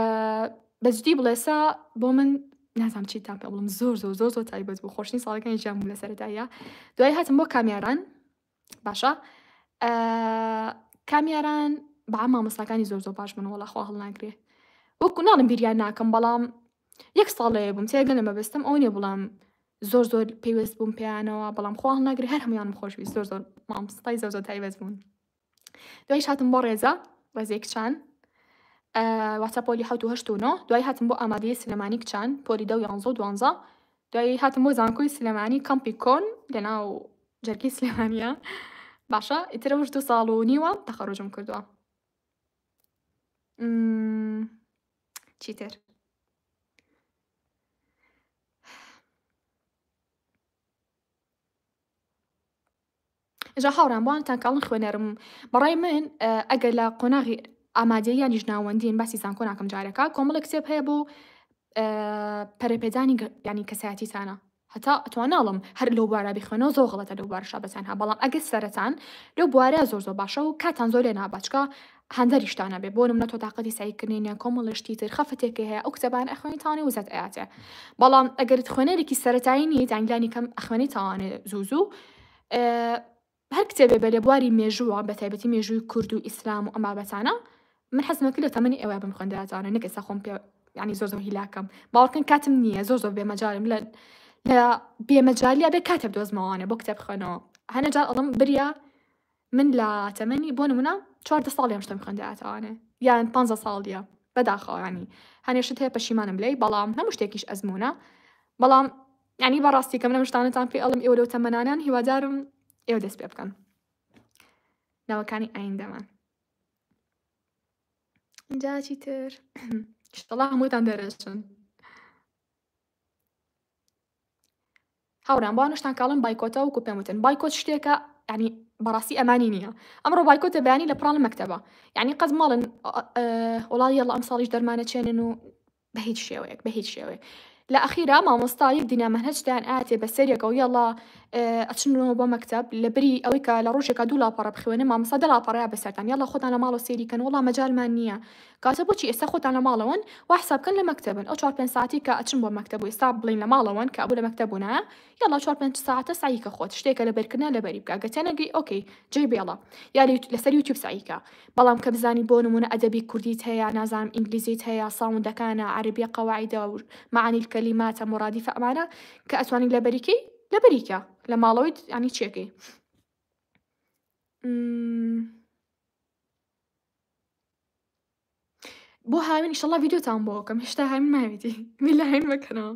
بە جدی بڵێ سا بۆ من نازام چی تام پێ بڵم زۆر زۆر زۆر زۆر تایبەت بوو خۆشتنی ساڵەکانی ژیان بوو لە سەرەتاییە دوای هاتم بۆ کامیاران باشە ئە کامیاران بە مامۆستاکانی زۆر زۆر باش بوون وەڵا خوا هەڵناگرێ وەکو ناڵم بیریان ناکەم بەڵام یەک ساڵەیە بووم تێگە لە مەبەستم ئەو نیە بڵام زۆر زۆر پێویست بووم پێیانەوە بەڵام خوا هەڵناگرێ هەر هەمویانم خۆشویست زۆر زۆر مامۆستای زۆر زۆر تایبەت بوون دوایش هاتم بۆ ڕێزە ڕێزەی کچان واتە پۆلی حوت و هەشت و نۆ دوای هاتم بۆ ئامادەی سلێمانی کچان پۆلی دە و یانزە و دوانزە دوای هاتم بۆ زانکۆی سلێمانی کەمپی کۆن لەناو جەرگی سلێمانە باشە ئیترە وش دو ساڵ و نیوە تەخەڕۆژم کردووە چیتر جا هاوڕێیان بۆ ئانتان کاڵن خوێنەرم بەڕای من ئەگەر لە قۆناغی ئامادەیی یانیش ناوەندین باسی زانکۆ ناکەم جارێکە کۆمەڵێک کتێب هەیە بۆ پەرەپێدانی ینی کەسایەتیتانە هەتا ئەتوان ناڵم هەر لەو بارە بخوێنەوە زۆر غڵەتە لەو بارشا بەتەنها بەڵام ئەگەر سەرەتان لەو بوارە زۆر زۆر باشە و کاتان زۆر لێ نابچکە هەندەریشتان نەبێ بۆ نمونە تۆ تاقەتی سەعی کردنی نیە کۆمەڵێ شتی تر خەفەتێکی هەیە ئەو کتێبانە ئەخوێنی تاوانێ وزەت ئەیاتێ بەڵام ئەگەرت خوێنەرێکی سەرەتایی نیت یان لانی کەم ئەخوێنی تاوانێ زوو زوو هەر کتێبێ بە لێبواری مێژووە بە تایبەتی مێژووی کورد و ئیسلام و ئەم بابەتانە من حەزمە کرد لە تەمەنی ئێوە بم خوێندراتوانە نەکە سەخۆم پێ ینی زۆر زۆر هیلاکەم باوەڕکن کاتم نییە زۆر زۆر بێمەجارم لە لە بێمەجالیا بێ کاتێ دۆزمەوانە بۆ کتێب خوێنەوە هەنەجار ئەڵم بریا من لە تەمەنی بۆ نمونە چواردە ساڵی ئەم شتەم خوێندایە تاوانێ یان پانزە ساڵیە بەداخەوە یانی هەنێ شت هەیە پەشیمانم لێی بەڵام هەموو شتێکیش ئەزمونە بەڵام یانی بەڕاستی کەم لەم شتانەتان پێ ئەڵم ئێوە لەو تەمەنانان هیوادارم ئێوە دەست پێ بکەن ناوەکانی ئایندەمان جاچی تر شتڵا هەمووتان دەرەچن هاورام بۆ نشتان کاڵن بایکۆتە وەکو پێم وتن بایکۆت شتێکە ینی بەڕاستی ئەمانی نییە ئەمڕۆ بایکۆتە بەیانی لە پرانە مەکتتەبە ینی قەز ماڵن وڵی یەڵ ئەم ساڵیش دەرمانە چێنن و بە هیچ شێوەیەک بە هیچ شێوەیە لە ئەخیرا مامۆستا یەک دینامەنهجتان ئااتێ بە سەرێکە و یەڵا ئەچنەوە بۆ مەکتب لە بری ئەوەی کە لە ڕژێکە دوو لاپەڕە بخوێنە مامۆستا دەڵاپەڕیا بەسەران یەڵە خۆتان لە ماڵۆ سێریکەن وڵا مەجارمان نییە کاتە بۆچی ئێستا خۆتان لە ماڵەوەن وا حساب بکەن لە مەکتەبن ئەو چوار پێنج ساعەتی کە ئەچن بۆ مەکتەب و ئێستا بڵێن لە ماڵەوەن کە ئەبوو لە مەکتەب بوونایە یەڵا چوار پێنج ساعەتە سەعی کە خۆت شتێکە لەبەر کردنە لەبەری بکە گەر تێنەگەی ئۆکەی جێی بێڵە یا لەسەر یوتیوب سەعی کە بەڵام کە بزانی بۆ نموونە ئەدەبی کوردیت هەیە نازانم ئینگلیزیت هەیە ساوندەکانە عەرەبیە قەواعیدە و معانی الکلیماتە مرادیفە ئەمانە کە ئەتوانی لەبەری کەی لەبەری کە لە ماڵەوەی یانی چێکەی بۆ هاوین ئیشەڵا ڤیدیۆتان بۆ ئەوکەم هێشتا هاوین ماویتی میلا هاوین مەکەنەوە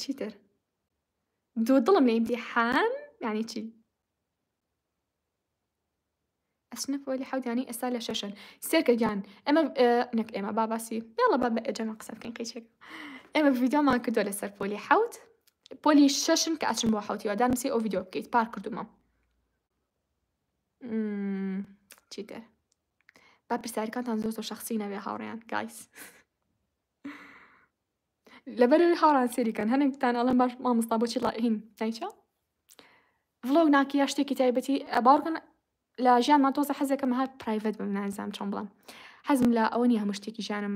چیتر دوو دڵم لە ئیمتیحان یعنی چی ئەسنە پۆلی حەودانی ئێستا لە شەشن سێرکە گیان ئەمە نەک ئێمە باباسی یاڵە با بە ئەجەمە قسە بکەین قیچێک ئێمە ڤیددیۆمان کردووە لەسەر پۆلی حەوت پۆلی شەشن کە ئەچم بۆ حوتیوە دانوسی ئەو ڤیددیۆ بکەیت پار کردومە چیتر با پرسیارەکانتان زۆر زۆر شخصی نەبێ هاوڕێیان گایس لەبەرەوەی هاوڕان سێریکەن هەنێکتان ئەڵێن باش مامۆستا بۆچی ڵائین نایچە ڤڵۆگ ناکی یا شتێکی تایبەتی باوەڕکەن لە ژیانمان تۆزە حەزەکەم هەر پرایڤەت بم نازانم چۆن بڵم حەزم لە ئەوە نیە هەموو شتێکی ژیانم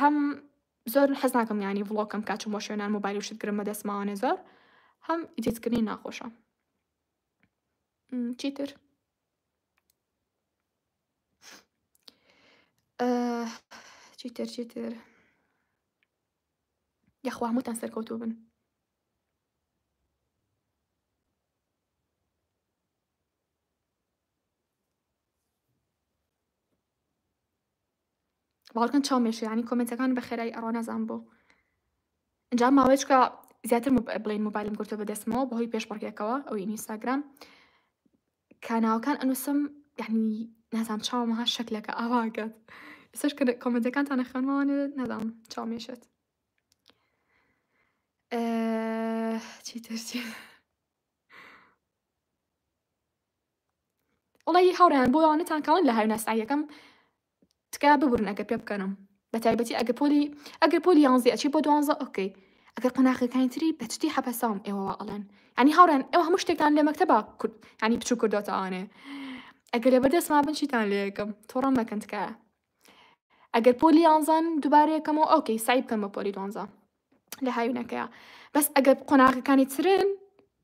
هەم زۆر حەز ناکەم یانی ڤڵۆکم کا چوم بۆ شوێنان مۆبایل و شت گرم بەدەست ماوانێ زۆر هەم ئیدیتکردنی ناخۆشە چیتر چیتر چیتر یاخوا هەمووتان سەرکەوتوو بن باوەڕکەن چاوم مێشێ یانی کۆمێنتەکان بەخێرایی ئەڕا نازام بۆ ئەنجام ماوەیەچکە زیاتر بڵین موبایلم گرتو بەدەستمەوە بەهۆی پێش بڕگێکەوە ئەو ئینیستاگرام کاناوەکان ئەنووسم یعنی نازام چاومەها شەکلەکە ئاواگەت سەر کۆمنتەکانتان نەخوێنمەوانێ نازام چاو مێشێت چی ترسی وەڵایی هاوڕێیان بۆ ئەوانەتان کەڵن لە هاویناسای یەکەم تکایە ببورن ئەگەر پێ بکەنم بە تایبەتی ئەگە پۆلی ئەگەر پۆلی یانزی ئەچی بۆ دوانزە ئۆکەی ئەگەر قۆناخەکانی تری بە جدی حەپەسام ئێوە وا ئەڵێن ینی هاوڕێن ئێوە هەموو شتێکتان لە مەکتەبا کورد ینی بچوو کردۆتەوانێ ئەگەر لە بەردەستما بن چیتان لێ یەکەم تۆڕەم مەکەن تکایە ئەگەر پۆلی یانزان دوبارە یەکەمەوە ئۆکەی سعی بکەم بە پۆلی دوانزە لە هاوینەکەیە بەس ئەگەر قۆناغەکانی ترن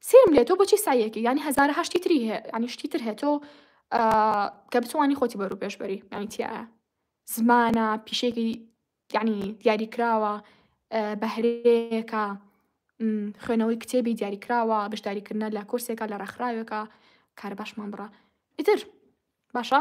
سێرم لێ تۆ بۆچی سایەکی ینی هزار هەشتی تری هەیە ینی شتی تر هەیە تۆ کە بتوانانی خۆتی بەرو پێشبەری ینی تایە زمانە پیشێکی ینی دیاری کراوە بەهرەیەەکە خوێنەوەی کتێبی دیاری کراوە بەشداریکردە لە کورسێکە لە ڕێکخراوێکە کارە باشمان بڕە ئیتر باشە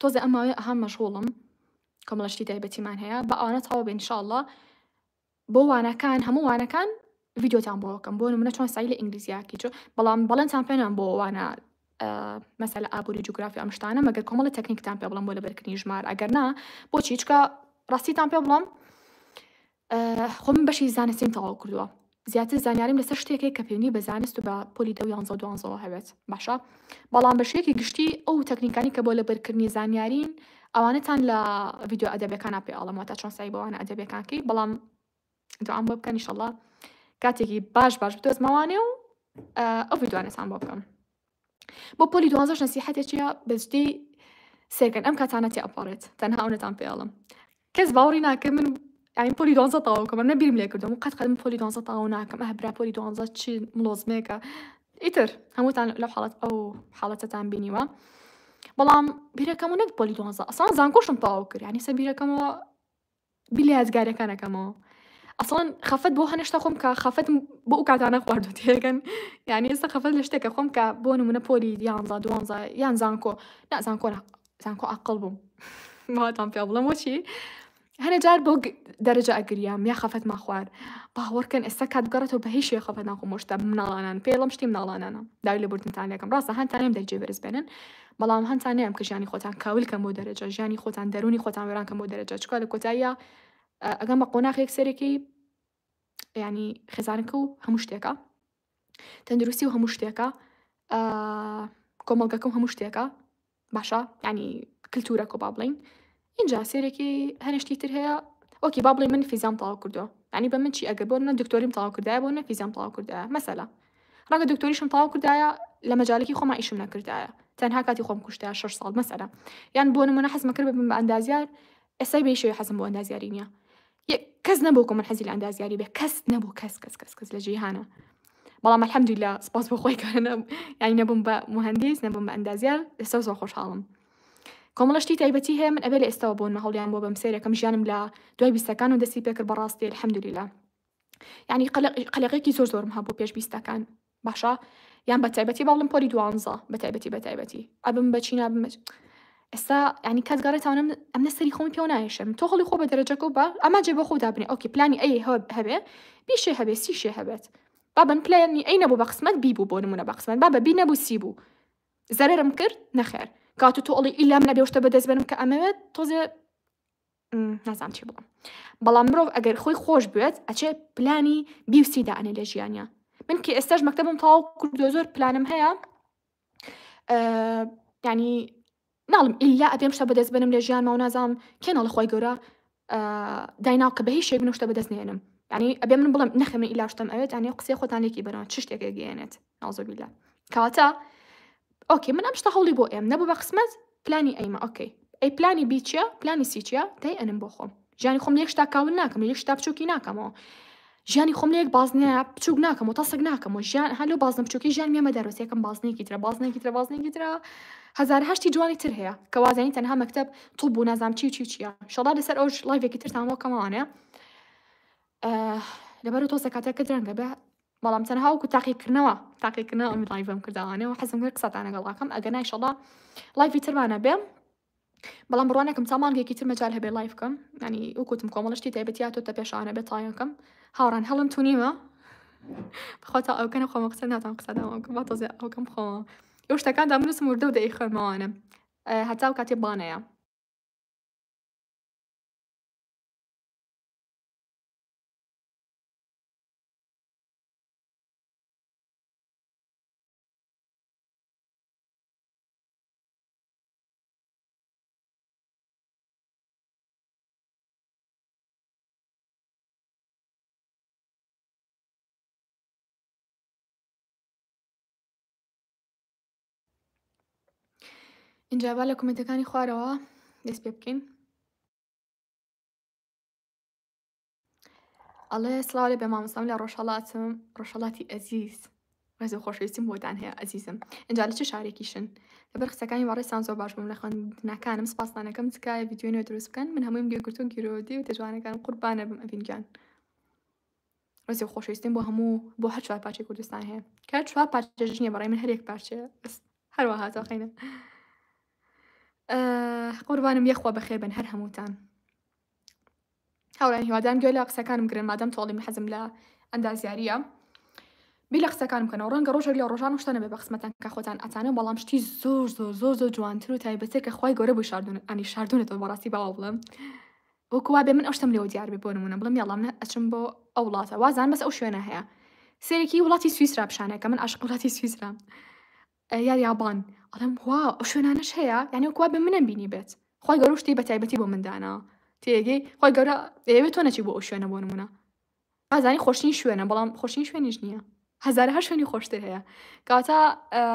تۆزێ ئەم ماوەیە ئەهام مەشغوڵم کۆمەڵە شتی تایبەتیمان هەیە بە ئەوانە تەواو بێ انشاءاللە بۆ وانەکان هەموو وانەکان ڤیدیۆتان بۆکەم بۆ نمونە چۆن سای لە ئینگلیزیاکی چۆ بەڵام بەڵێنتان پێنان بۆ وانە مەسەلە ئابووری جوگرافی ئەم شتانە مەگەر کۆمەڵە تەکنیکتان پێ بڵم بۆ لەبەرکردنی ژمار ئەگەر نا بۆچی چکە ڕاستیتان پێ بڵم خۆ من بەشی زانستیم تەواو کردووە زیاتر زانیاریم لەسەر شتێک هەیە کە پەیوەندی بە زانست و بە پۆلی دە و یانزە و دوانزەوە هەبێت باشە بەڵام بە شێوەیەکی گشتی ئەو تەکنیکانی کە بۆ لەبەرکردنی زانیارین ئەوانەتان لە ڤیدیۆ ئەدەبەکانە پێ ئاڵم واتە چۆن سای بەوانە ئەدەبەکانکەی بەڵام دوام بۆ بکەن ئیشەڵڵا کاتێکی باش باش بدۆزمەوانێ و ئەو ڤیدیوانەتان بۆ بکەم بۆ پۆلی دوازدەش نەسیحەتێ چیە بەجدی سێرکەن ئەم کاتانە تێ ئەپەڕێت تەنها ئەونەتان پێڵم کەس باوەڕی ناکە من ئاین پۆلی دوانزە تاوکە من نەبیرم لێ کردم و قەت قەدم پۆلی دوانزە تاو ناکەم ئە برا پۆلی دوانزە چی ملۆزمێکە ئیتر هەمووتان لەو حاڵەت ئەو حاڵەتەتان بینیوە بەڵام بیرەکەم و نەک پۆلی دوانزە ئەسان زانکۆشم تاو کرد ینی سە بیرەکەمەوە بیر لە یادگارەکان ئەکەمەوە ئەسڵەن خەفەت بۆ هەنە شتە خۆم کە خەفەتم بۆ ئەو کاتانە خواردوە تێگەن یانی ئێستا خەفەت لە شتێکە خۆم کە بۆ نمونە پۆلی یانزا دوانزا یان زانکۆ نا زانکۆ نا زانکۆ ئاقڵ بووم ماتان پێ بڵم وەچی هەنە جار بۆ دەرەجە ئەگریام یا خەفەتما خوارد باوەڕکەن ئێستا کات بگەڕێتەوە بە هیچ شێ خەفەت ناخۆم شتا مناڵانان پێڵم شتی مناڵانانە داوی لە بردنتان لەکەم ڕاستە هەندتانێم دەرجێ بەرز بێنن بەڵام هانتان نەیەم کە ژیانی خۆتان کاول کەن بۆ دەرەجە، ژیانی خۆتان دەرونی خۆتان وێران کەن بۆ دەرەجە، چکا لە کۆتاییا ئەگەن بە قۆناغێک سەرەکەی یانی خێزانەکە و هەموو شتێکە تەندروستی و هەموو شتێکە کۆمەڵگەکە و هەموو شتێکە باشە ینی کللتورە کۆ با بڵین ئینجا سێرێکی هەرێ شتی تر هەیە ئۆکی با بڵێ من فیزام تاوا کردو یعنی بە من چی ئەگەر بۆ نە دکتۆریم تاوا کردایە بۆ نە فیزام تاوا کردایە مەسەلا ڕەگە دکتۆریشم تاوا کردایە لە مەجالێکی خۆما ئیشم نەکردایە تەنها کاتی خۆم کوشتە شش ساڵ مەسەلا یان بۆ نمونە حەزمە کرد بم بە ئەندازیار ئێسای بێشەوەی حەزم بۆ ئەندازیاری نییە کەس نەبوو کە من حەزی لە ئەندازیاری بێ کەس نەبوو کەس کەس کەس کەس لە جیهانە بەڵام الحمدلله سپاس بۆ خۆی کارە یاینەبووم بە مهندس نەبووم بە ئەندازیار لەسەر زۆر خۆشحاڵم کۆمەڵە شتی تایبەتی هەیە من ئەبێ لە ئێستەوە بۆنمە هەوڵیان بۆ بەم سەیرەکەم ژیانم لە دوای بیستەکان و دەستی پێکرد بەڕاستی الحمدللە یعنی قەلەقێکی زۆر زۆرم هەبوو پێش بیستەکان باشە یان بە تایبەتی باڵم پۆلی دوانزە بە تایبەتی بە تایبەتی ئەبم بەچی نابم ئێستا ینی کات گەڕێتانم ئەم نەسەری خۆم پێ نایشم تۆ هەڵی خۆ بە دەرەجەکە و بە ئەما جێ بە خۆ دابنێ ئەوکی پلانی ئەی هەبێ بیشێ هەبێ سیشێ هەبێت بابن پلانی ئەی نەبوو بە قسمەت بی بوو بۆ نمونە بە قسمەت بابە بی نەبوو سی بوو زەرەرم کرد نەخێر کاتو تۆڵی ئیلام نەبێ شتە بەدەست بەرم کە ئەمەوێت تۆزێ نازام چی بڵم بەڵام مرۆڤ ئەگەر خۆی خۆش بێت ئەچێ پلانی بیوسی دانێ لە ژیانە من کە ئێستاش مەکتتەبم تاو کردو زۆر پلانم هەیە ینی ناڵێم ئیلا ئەبێم شتە بەدەست بێنم لە ژیانما و نازانم کێ ناڵێ خوای گەورە دایناو کە بە هیچ شێک من شتە بەدەست نێنم یعنی ئەبێ من بڵێم نەخێ من ئیلا شتم ئەوێت یعنی قسەی خۆتان لێکی بەرەوە چ شتێک گەیەنێت ناوزە بیلا کەواتە ئۆکێ من ئەم شتە هەوڵی بۆ ئێم نەبوو بە قسمەت پلانی ئەیمە ئۆکەی ئەی پلانی بیچە پلانی سیچە دای ئەنم بۆ خۆم ژیانی خۆم لە یەک شتا کامل ناکەم لە یەک شتا بچووکی ناکەمەوە ژیانی خۆم لە یەک بازنەیە بچووک ناکەم و تەسک ناکەم و ژیان هەلو بازنە بچووکی ژیان مێمە دەرۆسیەکەم بازنێکی ترە بازنێکی ترە بازنێکی ترە هزار هەشتی جوانی تر هەیە کە وازانی تەنها مەکتب طب و نازام چی و چی و چیە شەڵا لەسەر ئەو لایڤێکی ترتان بۆ کەماوانە لەبەر تۆ سەکاتەکە درەنگە بە بەڵام تەنها وکو تاقیکردنەوە تاقیکردنەوە ئەم لایڤم کردوانەوە حەزم کرد قسەتان لەگەڵاکەم ئەگەر نایشەڵا لایڤی ترمانە بێم بەڵام بڕوا ناکەم تا مانگێکی تر مەجال هەبێ لایڤ بکەم یانی وکوتم کۆمەڵە شتی تایبەتی هاتۆتە پێشانە بێ تایەکەم هاوڕان هەڵم تونیمە بەخوا تا ئەوکەنە خۆمە قسە ناتان قسە داواکەم با تۆزێ ئەوکەم خۆمە ئەو شتەکان دامنووسم وردە و دەی خوێنمەوانم هەتا و کاتێ بانەیە ئینجا با لە کومنتەکانی خوارەوە دەست پێ بکەین ئەڵێ سڵاو لێ بێ مامۆستام لە ڕۆژهەڵاتم ڕۆژهەڵاتی ئەزیز ڕێز و خۆشەویستیم بۆتان هەیە ئەزیزم ئەجا لە چ شارێکیشن لەبەر قسەکانی وەڕێستان زۆر باش بووم لە خوێندنەکانم سپاسانەکەم تکایە ڤیدیۆی نوێ دروست بکەن من هەموویم گوێگرتو و گیرۆدەی و تێجوانەکانم قوربانە بم ئەڤین گیان ڕێز و خۆشەویستیم بۆ هەموو بۆ هەر چوار پارچەی کوردستان هەیە کە چوار پارچەش نییە بەڕای من هەرێک پارچە بەس هەروە هاتۆقینە قوربانم یەخوا بەخێر بن هەر هەمووتان هاورێیان هیوادارم گوێ لە قسەکانم بگرن مادام تۆڵی من حەزم لە ئەندازیاریە بیر لە قسەکان بکەنەوە ڕەنگە ڕۆژێک لە ڕۆژان و شتانە بێ بە قسمەتان کە خۆتان ئەتانە بەڵام شتی زۆر زۆر زۆر زۆر جوانتر و تایبەتە کە خخوای گەورە بوو شاردون ئەنی شاردونەتەوە بەڕاستی باوە بڵم وەکووا بێ من ئەو شتم لێەوە دیار بێ بۆ نمونە بڵم یاڵام نە ئەچم بۆ ئەو وڵاتە وازان بەس ئەو شوێنە هەیە سێرەکی وڵاتی سویسرا پیشانەکە من عشق وڵاتی سویسرا یا یابان ئەڵێم واو ئەو شوێنانەش هەیە یانی وەک وا بێ منم بینیبێت خوای گەورە شتی بە تایبەتی بۆ من داناوە تێگەی خوای گەورە دەیەوێت تۆ نەچی بۆ ئەو شوێنە بۆ نمونە ئازانی خۆشترین شوێنە بەڵام خۆشترین شوێنیش نییە هەزارە هەر شوێنی خۆشتر هەیە کاتە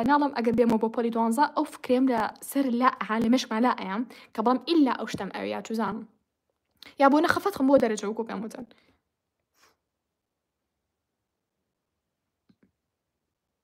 ناڵم ئەگەر بێمە بۆ پۆلی دوانزە ئەو فکرێم لە سەر لا ئەها لە مشما لا ئەیام کە بەڵام ئللا ئەو شتم ئەوێ یا چزانم یا بۆ نەخەفەت خم بۆ دەرەجە وکۆ پێم وتن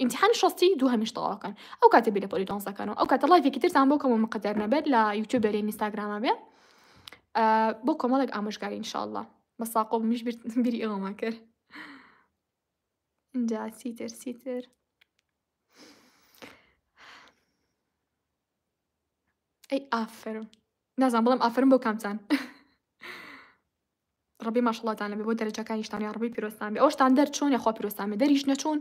ئیمتیحانی شەستی دووهەمیش تەواو کەن ئەو کاتە بیر لە پۆلی دوانزدە کەنەوە ئەو کاتە ڵایڤێکی ترتان بۆ کەمەوە مقەدەر نەبێت لە یوتیوب بێ لە ئینستاگرامە بێ بۆ کۆمەڵێک ئامۆژگاری ان شاء الله بە ساقۆ بمیش بیر بیری ئەوەمان کرد اینجا سیتر سیتر ئەی ئافرم نازان بڵم ئافرم بۆ کامتان ڕەبی ماشەڵاتان لەبێ بۆ دەرەجەکانیشتان یاڕەبی پیرۆزتان بێ ئەوشتان دەر چۆن یاخوا پیرۆزتان بێ دەریش نەچوون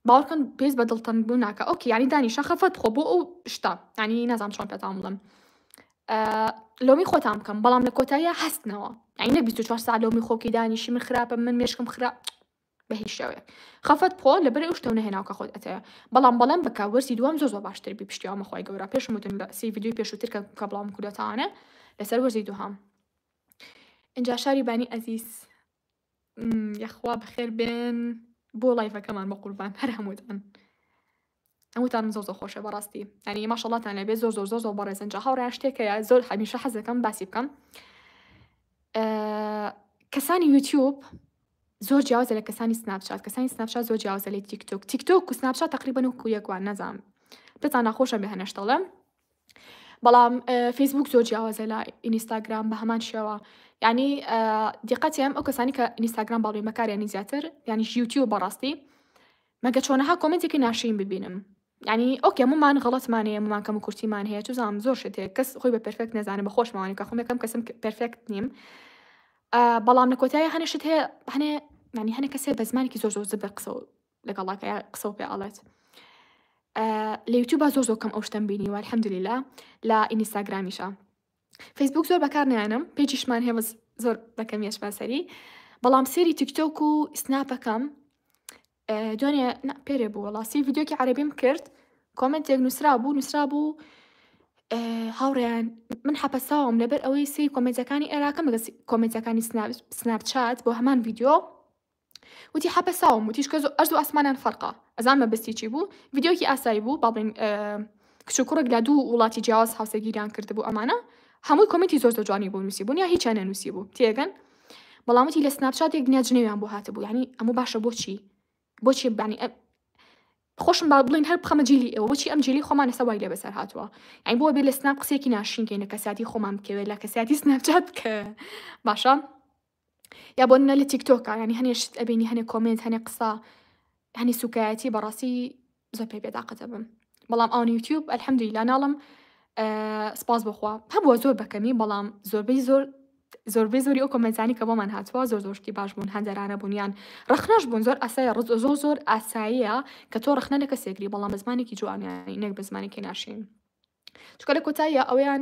باوەڕکەن پێز بە دڵتەنگ بوو ناکە ئەوکی یانی دانیشە خەفەت خۆ بۆ ئەو شتا ینی نازام چۆن پێتان بڵم لۆمی خۆتان بکەم بەڵام لە کۆتاییە هەستنەوە ئەی نە 24 سا لۆمی خۆکی دانیشی من خراپە من مێشکم خرا بە هیچ شێوەیە خەفەت بخۆ لە بەرەی ئەو شتەو نەهێناوکە خۆت ئەتەیە بەڵام بەڵێن بکە وەرزی دووەم زۆر زۆر باشتر بی پشتیوامە خۆی گەورە پێشمتون لە سی یددیوی پێشووتر کە کە بڵام کوردەتانە لەسەر وەرزی دووهام ئینجا شاری بانی ئەزیز یەخوا بەخێر بێن بۆ لایڤەکەمان بە قوربان هەر هەمووتان هەمووتانم زۆر زۆر خۆشە بەڕاستی ینی ماشەڵاتان لەبێ زۆر زۆر زۆر زۆر بەڕێزن جا هاوڕێ شتێکەیە زۆر هەمیشە حەزەکەم باسی بکەم کەسانی یوتیوب زۆر جیاوازە لە کەسانی سناپشات کەسانی سناپشات زۆر جیاوازە لە تیکتۆک تیکتۆک و سناپشات تقریبا و کویەکوان نەزانم دەتان ناخۆشە بە هەنەشتەڵم بەڵام فەیسبووک زۆر جیاوازە لە ئینیستاگرام بە هەمان شێوە یعنی دیقەتیان ئەو کەسانی کە ئینیستاگرام باڵێن بەکاریانی زیاتر یعنی یوتیوب بەڕاستی مەگە چۆنەها کۆمنتێکی ناشرین ببینم ینی ئۆکێ ممان غڵەتمانەیە ممان کەم و کورتیمان هەیە توزانام زۆر شت هەیە کەس خۆی بە پرفێکت نەزانێت بە خۆشمەوانی کە خۆمەکەم کەسم پرفێکت نیم بەڵام لە کۆتای هەنێ شت هەیە هەنێ ینی هەنێ کەسێ بە زمانێکی زۆر زۆر زبر قسە لەگەڵ ڵاکەیا قسە و پێ ئەڵێت لە یوتیوبا زۆر زۆر کەم ئەو شتم بینیوە الحمدللە لە ئینیستاگرامیشە فەیسبوک زۆر بەکار نیانم پێجیشمان هەیە بەس زۆر بەکەم یشمان سەری بەڵام سێری تیکتۆک و سناپەکەم دوێنێ پێرێ بوو وڵاستی یددیوکی عربیم کرد کۆمنتێک نووسرا بوو نووسرا بوو هاوڕێیان من حەپەساوم لەبەر ئەوەی سری کۆمنتەکانی عێراقم لەگە کۆمنتەکانی سناپچات بۆ هەمان یددیو وتی حەپەساوم وتیش کە زۆ ئەرز و ئاسمانان فەرقە ئەزان مەبەستی چی بوو ڤیدیۆکی ئاسایی بوو با بڵێین کچ و کوڕێک لە دوو وڵاتی جیاواز هاوسەگیریان کردبوو ئەمانە هەمووی کۆمێنتی زۆر زۆر جوانی بوو نووسیبوون یا هیچیان نەنووسیبوو تێگەن بەڵام وتی لە سناپچات یەک دنیا جنێویان بۆ هاتبوو یعنی ئەمە باشە بۆچی بۆچی بانی ئە خۆشم با بڵین هەر بخەمە جیلی ئێوە بۆچی ئەم جیلی خۆمان لەسە وای لێ بەسەر هاتووە ئەی بۆ بێ لە سناپ قسێکی ناشینکەین لە کەسیاتی خۆمان بکەوێت لە کەسیاتی سناپچات بکە باشە یا بۆ نمونە لە تیکتۆکا یعنی هەنێ شت ئەبینی هەنێ کۆمنت هەنێ قسە هەنی سوکایەتی بەڕاستی زۆر پێ بێداقەتە بم بەڵام ئەوان یوتیوب ئەلحەمدویلا ناڵم سپاس بخوا هەبووە زۆر بەکەمی بەڵام زۆربەی زۆر زۆربەی زۆری ئەو کۆمەنتانی کە بۆمان هاتووە زۆر زۆرشتی باش بوون هەندەرانە بوونیان ڕخنەش بوون زۆر ئاسایە ڕز زۆر زۆر ئاساییە کە تۆ ڕخنە لە کەسێکری بەڵام زمانێکی جوانیان نەک بە زمانێکی ناشین چکە لە کۆتاییە ئەویان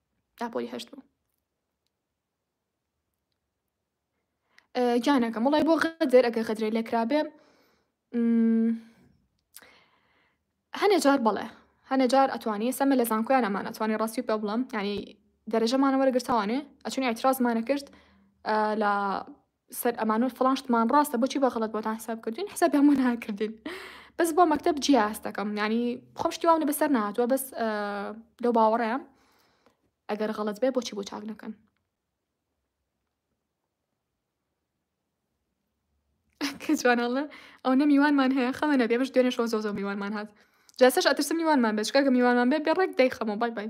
ئاپۆی هەشت بوو گیانەکەم وڵای بۆ غەدر ئەگە غەدرێ لێکرابێ هەنێ جار بڵێ هەنێ جار ئەتوانی سەمە لە زانکۆیان ئەمان ئەتوانی ڕاستی پێ بڵم ینی دەرەجەمانەوە گرتوانێ ئەچون ئەترازمانە کرد لە سەر ئەمانۆ فڵان شتمان ڕاستە بۆچی بە غەڵەت بۆتان حساب کردین حسابی هەموو ناکردین بەس بۆ مەکتب جیا هەست دەکەم ینی خۆم شتی واونە بەسەر نهاتوە بەس لەو باوەڕەیە ئەگەر غەڵەت بێ بۆچی بۆ چاک نەکەن کەجوانەڵە ئەو نە میوانمان هەیە خەمە نەبێ بەش دوێنێ شۆ زۆ زۆ میوانمان هات جاسەش ئەترسم میوانمان بێت چکەگە میوانمان بێت بێ ڕێک دەی خەمە بای بای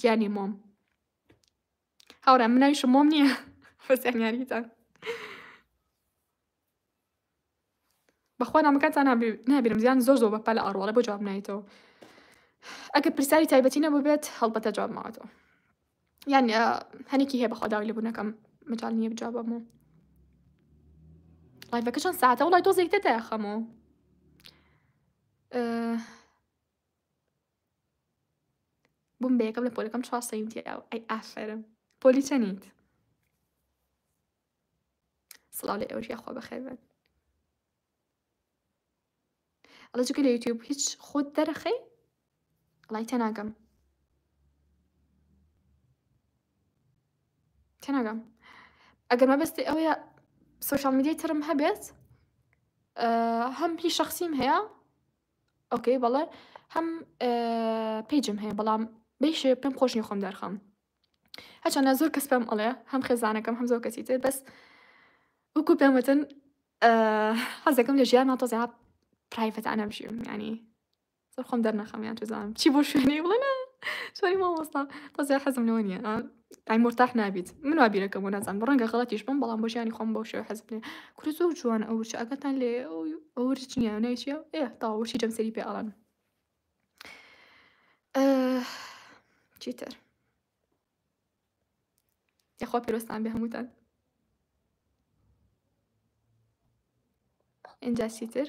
گیانی مۆم هاورا مناویشم مۆم نییە فەسیانیاریتان بەخوا نامەکانتان نابیرم زیان زۆر زۆر بەپە لە ئاڕواڵە بۆ جواب نایتەوە ئەگە پرسیاری تایبەتی نەبووبێت هەڵبەتە جواب ماوەتەوە یان هەنێکی هەیە بەخوا داوای لەبوونەکەم مەجال نییە بجوابم و لایڤەکە چەند ساعتە وڵای تۆ زیکتە تای خەمەوە بوم بە یەکەم لە پۆلەکەم چوار سەیم تیاو ئەی ئافەرم پۆلی چەنیت سڵاو لە ئێوەش یاخوا بەخێر بن ئەڵە جگە لە یوتیوب هیچ خۆت دەرەخەی ڵای تێناگەم تێناگەم ئەگەر مەبەستی ئەوەیە سوۆشال میدیای ترم هەبێت هەم هی شخصیم هەیە ئۆکەی بەڵێ هەم پیجم هەیە بەڵام بەیشێ پێم خۆش نیە خۆم دەرخەم هەچەندە زۆر کەس پێم ئەڵێ هەم خێزانەکەم هەم زۆر کەسی تر بەس وەکو پێم وتن حەزەکەم لە ژیان ناتۆزیا پرایڤەتانە بژیم ینی زۆر خۆم دەرنەخەم یان توزانم چی بۆ شوێنی بڵێ سۆری مامۆستا تۆزیا حەزم لەوە نیە ئای مورتاح نابیت من وا بیرەکەم و نازانم ڕەنگە غەڵەتیش بم بەڵام بۆ ژیانی خۆم بەو شێوە حەز بێ کورە زۆر جوان ئەو وچە ئەگەتان لێ ئەو ورچ نییە ناوی چییە ئێ تاوە ورچی جەمسەری پێ ئەڵێن چیتر یاخوا پێرۆستان بێ هەمووتان ئینجا چیتر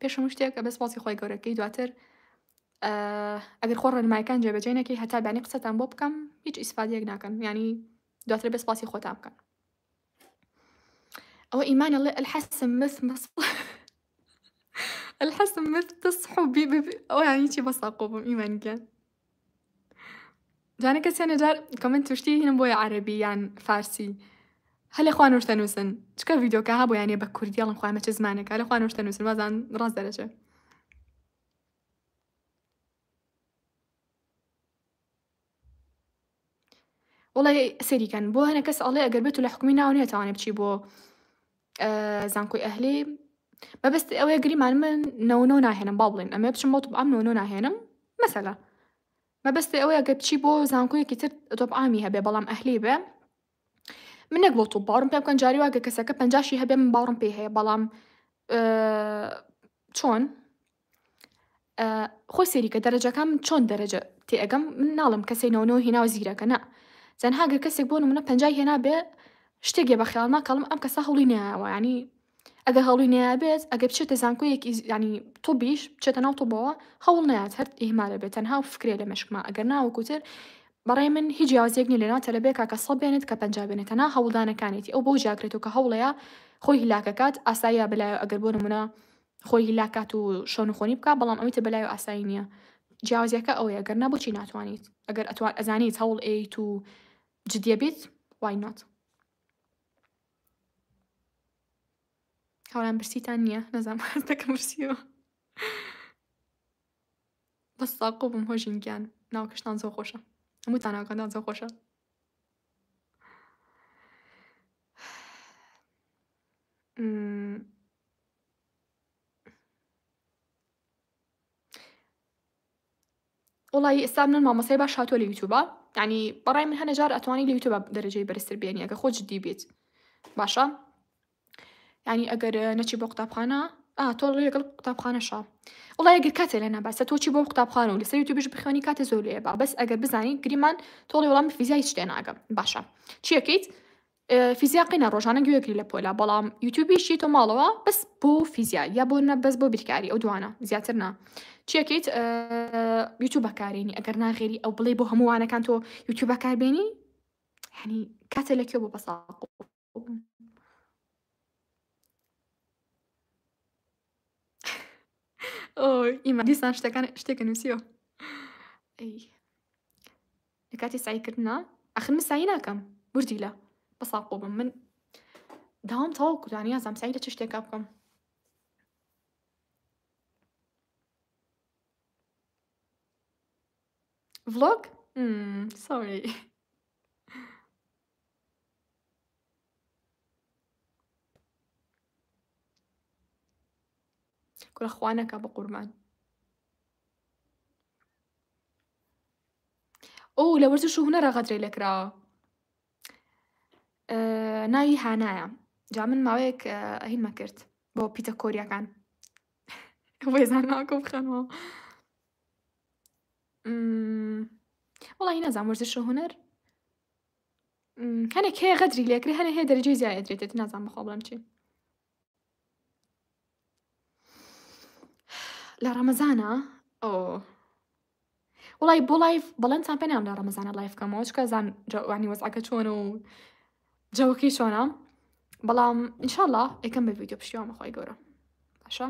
پێش هەموو شتێک ئەبێ سپاسی خوای گەورە بکەی دواتر ئەگەر خۆ ڕێنمایەکان جێبەجێ نەکەی هەتا بانی قسەتان بۆ بکەم هیچ ئیسفادەیەک ناکەن ینی دواتر بێ سپاسی خۆتان بکەن ئەوە ئیمانە ڵێ الحسم مس مس الحسم مس تصحو بی ئەویانی چی بەساقۆ بم ئیمانگیان جانە کە سێنە جار کۆمنت توشتی هینم بۆیە عەربی یان فارسی هەلە خوا نوشتە نووسن چکە ڤیدۆکە ها بۆیانە بە کوردیڵم خوامە چ زمانێکە لە خوا نوشتە نووسن وازان ڕاست دەرەچێ وەڵای سەیری کەن بۆ هەنە کەس ئەڵێ ئەگەر بێت و لە حکومی ناو نیە تاوانێ بچی بۆ زانکۆی ئەهلی مەبست ئەوەیە گریمان من نەونۆ ناهێنم با بڵێن ئەمێ بچم بۆ ئەم نۆنۆ ناهێنم مەسەلا مەبستی ئەوەیە گە بچی بۆ زانکۆیەکی تر تۆپ ئامی هەبێ بەڵام ئەهلی بێ منێک بۆ تو باڕم پێ بکەن جاری واگە کەسەکە پنجشی هەبێ من باڕم پێ هەیە بەڵام چۆن خۆی سەیریکە دەرەجەکان من چۆن دەرەجە تێئەگەم من ناڵم کەسێک نەوە نەوە هێناوە زیرەکە نا تەنها گەر کەسێک بۆ منە پەنجای هێنا بێ شتێکێ بە خیاڵ ناکەڵم ئەم کەسە هەڵی نایەوە ینی ئەگەر هەڵی نابێت ئەگە بچێتە زانکۆیەکی ینی تۆ بیش بچێتە ناو تۆبەوە هەوڵ نات هەر ئیهمالە بێت تەنها و فکرێ لە مشکمە ئەگەر ناوەکوتر بەڕێ من هیچ یازێک نی لەنا تەلبێکا کە سە بێنێت کە پەنج بێنێتەنا هەوڵدانەکانێتی ئەو بۆ جاکرێت و کە هەوڵەیە خۆی هیلاکەکات ئاساییە بلایە ئەگەر بۆ نمونە خۆی هیلاک کات و شەونخۆنی بکا بەڵام ئەوەی تر بەلایو ئاسایی نیە جیاوازیەکە ئەوەیە گەر نا بۆچی ناتوانیت ئەگەر ئەتوان ئەزانیت هەوڵ ئەیت و جدیە بیت وای نۆت هاوران برسیتان نییە نەزان هەستەکە مرسیەوە بەس ساقۆ بم هۆژین گیان ناوکەشتان زۆ خۆشە هەمووتان ناوکەندان زۆ خۆشە وڵی ئستا منە مامەسای باش هاتۆ لە یوتوبە ینی بەڕای من هەنەجار ئەتوانی لە یوتوب دەرەجەی بەرزتر بێنی ئەگە خۆ جددی بێت باشە ینی ئەگەر نەچی بۆ قوتابخانە تۆ لەگەڵ قوتابخانەشە وڵای گەر کاتێ لە نابەسە تۆچی بۆ قوتابخانە و لەسەر یوتوبش بخوێنی کاتە زۆر لێ با بەس ئەگەر بزانانی گریمان تۆڵی وڵام فیزای شتێ ناگەم باشە چیەکەیت فیزیا قینە ڕۆژانە گوێ گری لە پۆلە بەڵام یوتوبی شی تۆ ماڵەوە بەس بۆ فیزیا یا بۆ نە بەس بۆ بیرکاری ئەو دوانە زیاتر نا چیەکەیت یوتوب بەکارێنی ئەگەر ناغێری ئەو بڵێ بۆ هەمووانەکان تۆ یوتوب بەکاربێنی هەنی کاتە لە کوێ بۆ بەساق ئیمە دیسان شتەکان شتێکە نووسیەوە لە کاتی سایکردنا ئەخن من سای ناکەم بردی لە بەساقۆ بم من داوام تەواو کوردانی یازام سای لە چ شتێکا بکەم ڤلۆگ سۆری کورە خوا نەکا بە قوربان ئەو لە وەرزش و هونەرە غەدرەی لە کراوە ناوی هانایە جا من ماوەیەک ئەهی مەکرد بۆ پیتە کۆریەکان وێزان ناکە بخەنەوە وڵی نازان وەرزش و هونەر هەنێک هەیە غەدری لێکرێ هەنێ هەیە دەرەجەی زیای ئەدرێتێت نازان بەخۆ بڵم چی لە ڕەمەزانە ئۆ وڵی بۆ لایف بەڵێنتان پێنام لە ڕەمەزانە لایف کەمەوە چکە زان جوانی وەزعەکە چۆن و جەوەکەی چۆنە بەڵام انشاءله ئەکەم بە ویددیو پشتیوان بەخوای گەورە باشە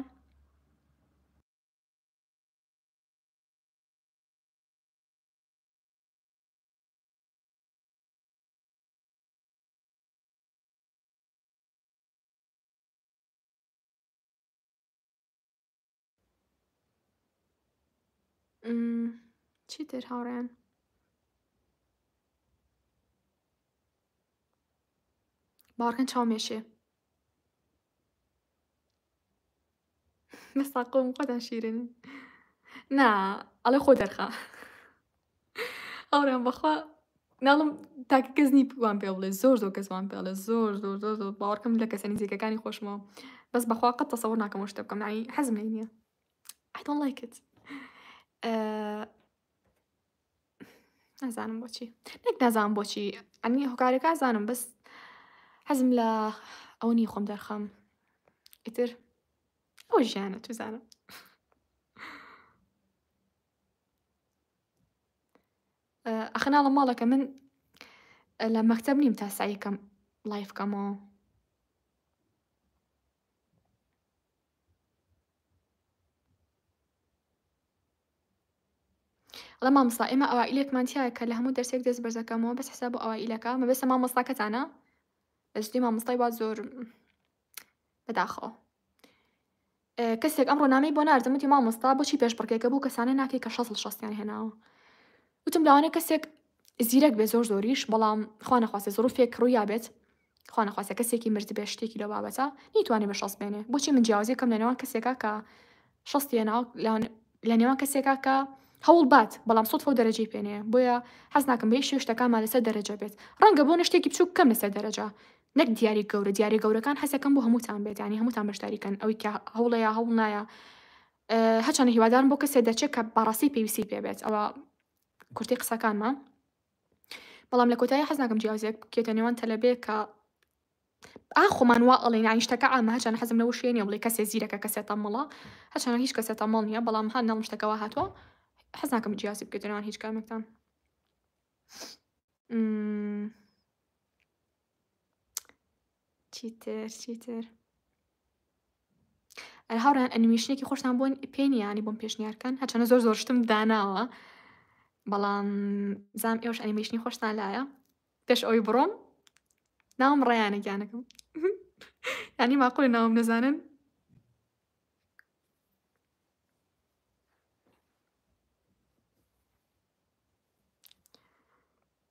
چیتر هاوڕێیان باوەڕکەن چاومێشێ بە ساقۆم خۆتان شیرن نا ئەڵێ خۆ دەرخە ئەوڕێن بەخوا ناڵم تاکە کەس نی وان پێ بڵێ زۆر زۆر کەس وان پێڵێ زۆر زۆر زۆر زۆر باوەڕکەم لە کەسە نزیکەکانی خۆشمەوە بەس بەخوا قەت تەسەوە ناکەمەوە شتە بکەم ناوی حەزم لێ نییە I don't like it. Uh, نازانم بۆچی نەک نازانم بۆچی ئەنی هۆکارەکە زانم بەس حەزم لە ئەو نی خۆم دەرخەم ئیتر ئەو ژیانە توزانم ئەخنا لە ماڵەکە من لە مەکتب نیم تا سعیکەم لایفکەمەوە ئەڵێ مامۆستا ئێمە ئەوائیلێکمان تیایە کە لە هەموو دەرسێک دەست بەرزەکەمەوە بەس حساب و ئەوائیلەکە مەبەستە مامۆستاکەتانە بەجدی مامۆستای وا زۆر بەداخەوە کەسێک ئەم ڕۆنامەی بۆ ناردم وتی مامۆستا بۆچی پێش بڕکێکە بوو کەسانە ناکەی کە شەست شەستیان هێناوە وتم لاوانە کەسێک زیرەک بێ زۆر زۆریش بەڵام خوانەخواستە زۆرفێک ڕوویا بێت خوانەخواستە کەسێکی مردبێ شتێکی لەو بابەتە نیتوانێ بە شەست بێنێ بۆچی من جیاوازی بکەم لە نێوان کەسێکا کە شەستی هێناو لە نێوان کەسێکا کە هەوڵ بات بەڵام سوتفە و دەرەجەی پێنەیە بۆیە حەز ناکەم بێ شێ شتەکانمان لەسەر دەرەجە بێت ڕەنگە بۆ نەشتێکی بچووک کەم لەسەر دەرەجە نەک دیاری گەورە دیارە گەورەکان حەزەکەم بۆ هەمووتان بێت ینی هەمووتان بەشداریکەن ئەوی کە هەوڵەیە هەوڵ نایە هەچەنە هیوادارم بۆ کەسێ دەچێت کە بەڕاستی پێویستی پێبێت ئەوە کورتی قسەکانمان بەڵام لە کۆتایی حەز ناکەم جیاوزیەک بکێتە نێوان تەلەبەیەک کە ئاخۆمان وا ئەڵێن یانی شتەکە ئامە هەرچەنە حەزم لەوە شوێ نیە بڵێ کەسێ زیرەکە کەسێ تەمەڵە هەرچەنە هیچ کەسێ تەمەڵ نییە بەڵام هەر نەڵم شتەکەەوە هاتووە حەز ناکەم جیاسی بکێتە نێوان هیچ کامێکتان چیتر چیتر ئەر هاوڕیان ئەنیمیشنێکی خۆشتان بۆن پێنیانی بۆم پێشنیارکەن هەچەنە زۆر زۆرشتم داناوە بەڵام زام ئێوش ئەنیمیشنی خۆشتان لایە پێش ئەوی بڕۆم ناوم ڕیانە گیانەکەم ینی ماقل ناوم نەزانن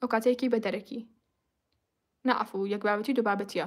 ئەوکاتەیەکی بە دەرەکی. نا عەفو یەک بابەتی دو بابەتیە.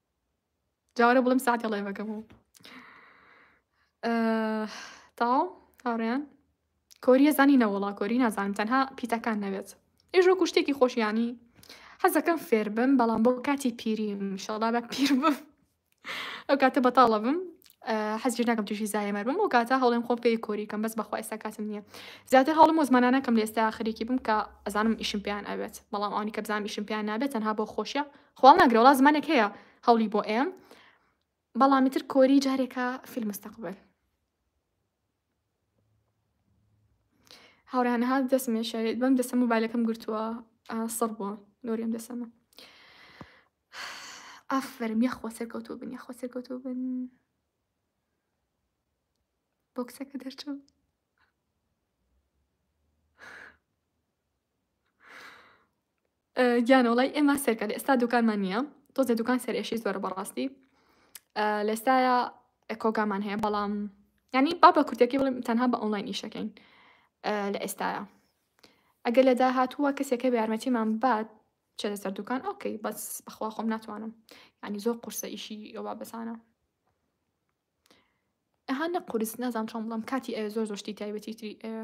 جارە بڵم ساعتی ڵێڤەکە بوو تاو هاڕێن کۆریە زانی نەوەڵا کۆری نازانم تەنها پیتەکان نەبێت ئێژۆ کوشتێکی خۆشیانی حەزەکەم فێر بم بەڵام بۆ کاتی پیری شڵا بە پیر بم ئەو کاتە بەتاڵە بم حەزی ناکەم توشی زایمەر بم و کاتە هەڵێم خۆم پێی کۆری کەم بەس بەخوا ئێستا کاتم نییە زیاتر هەڵم و زمانانەکەم لێستا خەریکی بم کە ئەزانم ئیشم پێیان ئەوێت بەڵام ئەوانی کە بزانام ئیشم پێیان نابێت تەنها بۆ خۆشیە خوا ماگرە وەڵا زمانێک هەیە هەوڵی بۆ ئێم بەڵام ئیتر کۆری جارێکە فی المستقبل هاوڕیان ها دەسمێ شارێت بەم دەسە موبایلەکەم گرتووە سڕ بووە نۆریم دەسەمە ئافرم یەخوا سەرکەوتوو بن یەخوا سەرکەوتوو بن بۆکسەکە دەرچوو گیانە وەڵای ئێمە سەرکە لە ئێستا دوکانمان نییە تۆزێ دوکان سەرێشی زۆرە بەڕاستی لە ئێستاە کۆگامان هەیە بەڵام ینی با بە کورتەکەی بڵێم تەنها بە ئۆنلاین ئیشەکەین لە ئێستاە ئەگەر لە داهاتووە کەسێکە بە یارمەتیمان بات چێ لەسەر دوکان ئۆکەی بەس بەخوا خۆم ناتوانم ینی زۆر قورسە ئیشی ئەوە بەسانە ئەها نە قورس نازانام چۆن بڵم کاتی ئەوێ زۆر زۆشتی تایبەتی تری ئەوێ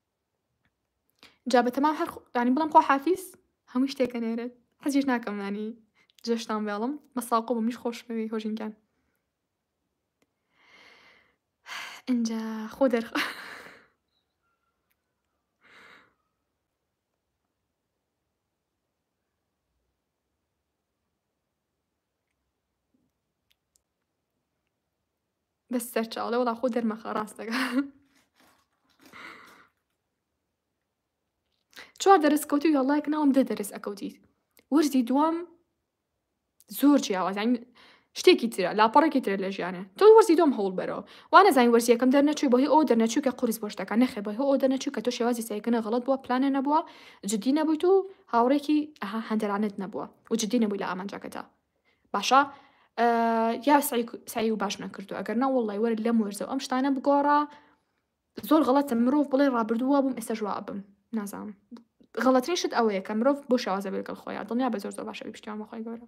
جا بە تەمام هەر ینی بڵم خۆ حافیز هەموو شتێکە نێرێت حەزیش ناکەم ینی جێشتان بێڵم بە ساقۆ بە منیش خۆشمەوی هۆژینگان اینجا خۆ دەرخ بەس سەرچاڵە وڵا خۆ دەرمەخە ڕاستەکە چوار دەرس کەوتی یاڵایک ناوم دە دەرس ئەکەوتیت وەرزی دوام زۆر جیاوازین شتێکی ترە لاپەڕێکی ترە لە ژیانە تۆ وەرزی دۆم هەوڵ بەرەوە وانە زانین وەرزیەکەم دەرنەچوی بەهی ئەو دەرنەچوو کە قرس بۆشتەکە نەخێ بەهۆ ئەو دەرنەچوو کە تۆ شێوازی سایکردە غڵت بووە پلانە نەبووە جددی نەبوویت و هاوڕێکی ئەها هەندەرانت نەبووە و جددی نەبووی لە ئامانجەکەدا باشە یا سعی و باش نەکردو ئەگەر نە وڵی وەرە لەم وەرزەوە ئەم شتانە بگۆڕە زۆر غڵەتە مرۆڤ بڵێ ڕابردووە بووم ئێستا ژوا بم نازانم غڵەتنی شت ئەوەیە کە مرۆڤ بۆ شێوازە بێگەڵ خۆیان دڵنیا بە زۆر زۆر باشە پشتیان بەخۆی گەورە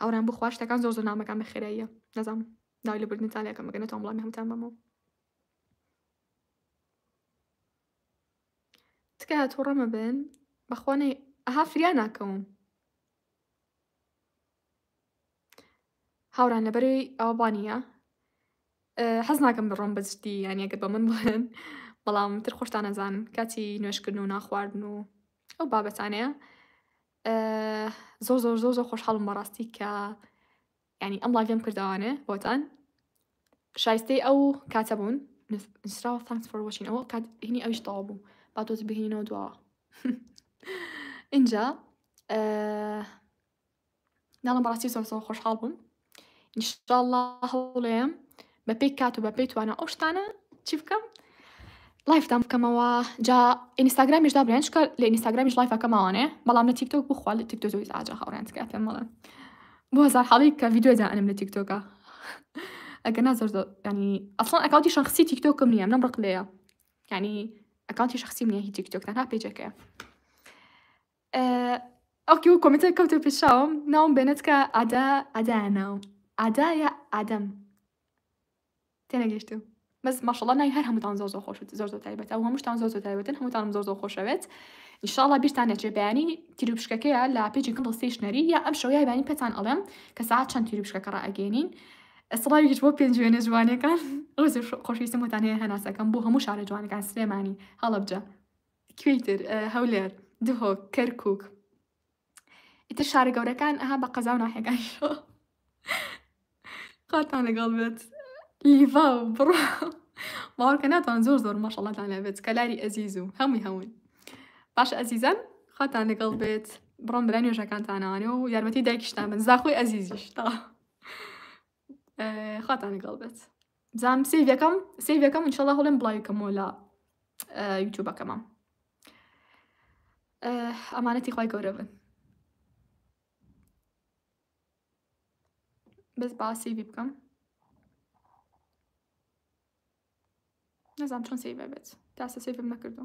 هاورام بخوا شتەکان زۆر زۆر نامەکان بە خێراییە نەزام داوای لە بردن تالەکەم بگەنە تۆم بڵامی هەمتان بەمەوە تکایە تووڕەمە بن بەخوانەی ئەها فریا ناکەوم هاوران لەبەروی ئەوە بانە حەز ناکەم بڕۆم بەجدی یانەکە بە من بڵێن بەڵام تر خۆشتانەزان کاتی نوێشکردن و ناخواردن و ئەو بابەتانەیە زۆر زۆر زۆر زۆر خۆشحاڵم بەڕاستی کە ینی ئەم لاڤم کردوانێ بۆتان شایستەی ئەو کاتە بوون نووسراوە ثانکس فۆر وەچین ئەوە کات هینی ئەویش تەوا بوو با تۆز بهینەوە دواوە اینجا دەڵێم بەڕاستی زۆر زۆر خۆشحاڵ بووم ئینشاءاللە هەوڵێم بە پێی کات و بە پێی توانە ئەو شتانە چی بکەم لایفتان بکەمەوە جا ئینستاگرامیش دابرێن چکە لە ئینستاگرامیش لایفەکە ماوانێ بەڵام لە تیکتۆک بخوا لە تیکتۆ زۆی ئاجا هاوڕێن تکات پێم بڵێن بۆ هزار حاڵی کە ڤیددیو دائنم لە تیکتۆکە ئەگە نازۆر ینی ئەسڵان ئەکاوتی شخصی تیکتۆکم نییە منم ڕق لەیە ینی ئەکاوتی شخصی نیە هی تیکتۆک تەنها پێجەکەیە ئەڵکی و کۆمنتە کەوتە پیشاوم ناوم بێنێتکە ئادا ئەدا ناوم ئادا یا ئادەم تێنەگەشتم بەس ماشەڵ نای هەر هەمووتان زۆر زۆر خۆشت زۆر زۆر تایبەت ئەو هەمووشتان زۆر زۆر تایبەتن هەمووتانم زۆر زۆر خۆشەوێت ئیشاڵا بیرتان نەچێ بەیانی تیروپشکەکەیە لە پێجی کەم ڕستیشنەری یا ئەم شەوەیە بانی پێتان ئەڵێم کە ساعت چەند تیروپشکەکە ڕائگەێنین ئەسڵاوی هیچ بۆ پێنج وێنە جوانەکان ڕزی خۆشویستم وتان هەیە هەناسەکەم بۆ هەموو شارە جوانەکان سلێمانی هەڵبجە کوێی تر هەولێر دهۆک کەرکوک ئیتر شارە گەورەکان ئەها بە قەزا و ناحەکان خاتان لەگەڵ بێت لیڤا و بڕ باوەڕکە ناتوان زۆر زۆر مەشەڵاتان لەبێت کەلاری ئەزیز و هەمووی هەمووی باش ئەزیزان خاتان لەگەڵ بێت بڕۆم برا نوێژەکانتانانێ و یارمەتی دایکیشتان من زاخۆی ئەزیزیش تا خاتان لەگەڵ بێت بزانم سیڤ یەکەم سیڤ یەکەم انشاءالله هەڵێم بڵاوی کەمەوە لە یوتیوبەکەمە ئەمانەتی خی گەورە بن بەس باسی بی بکەم نەزانام چۆن سیڤ بێت تاسە سیڤم نەکردو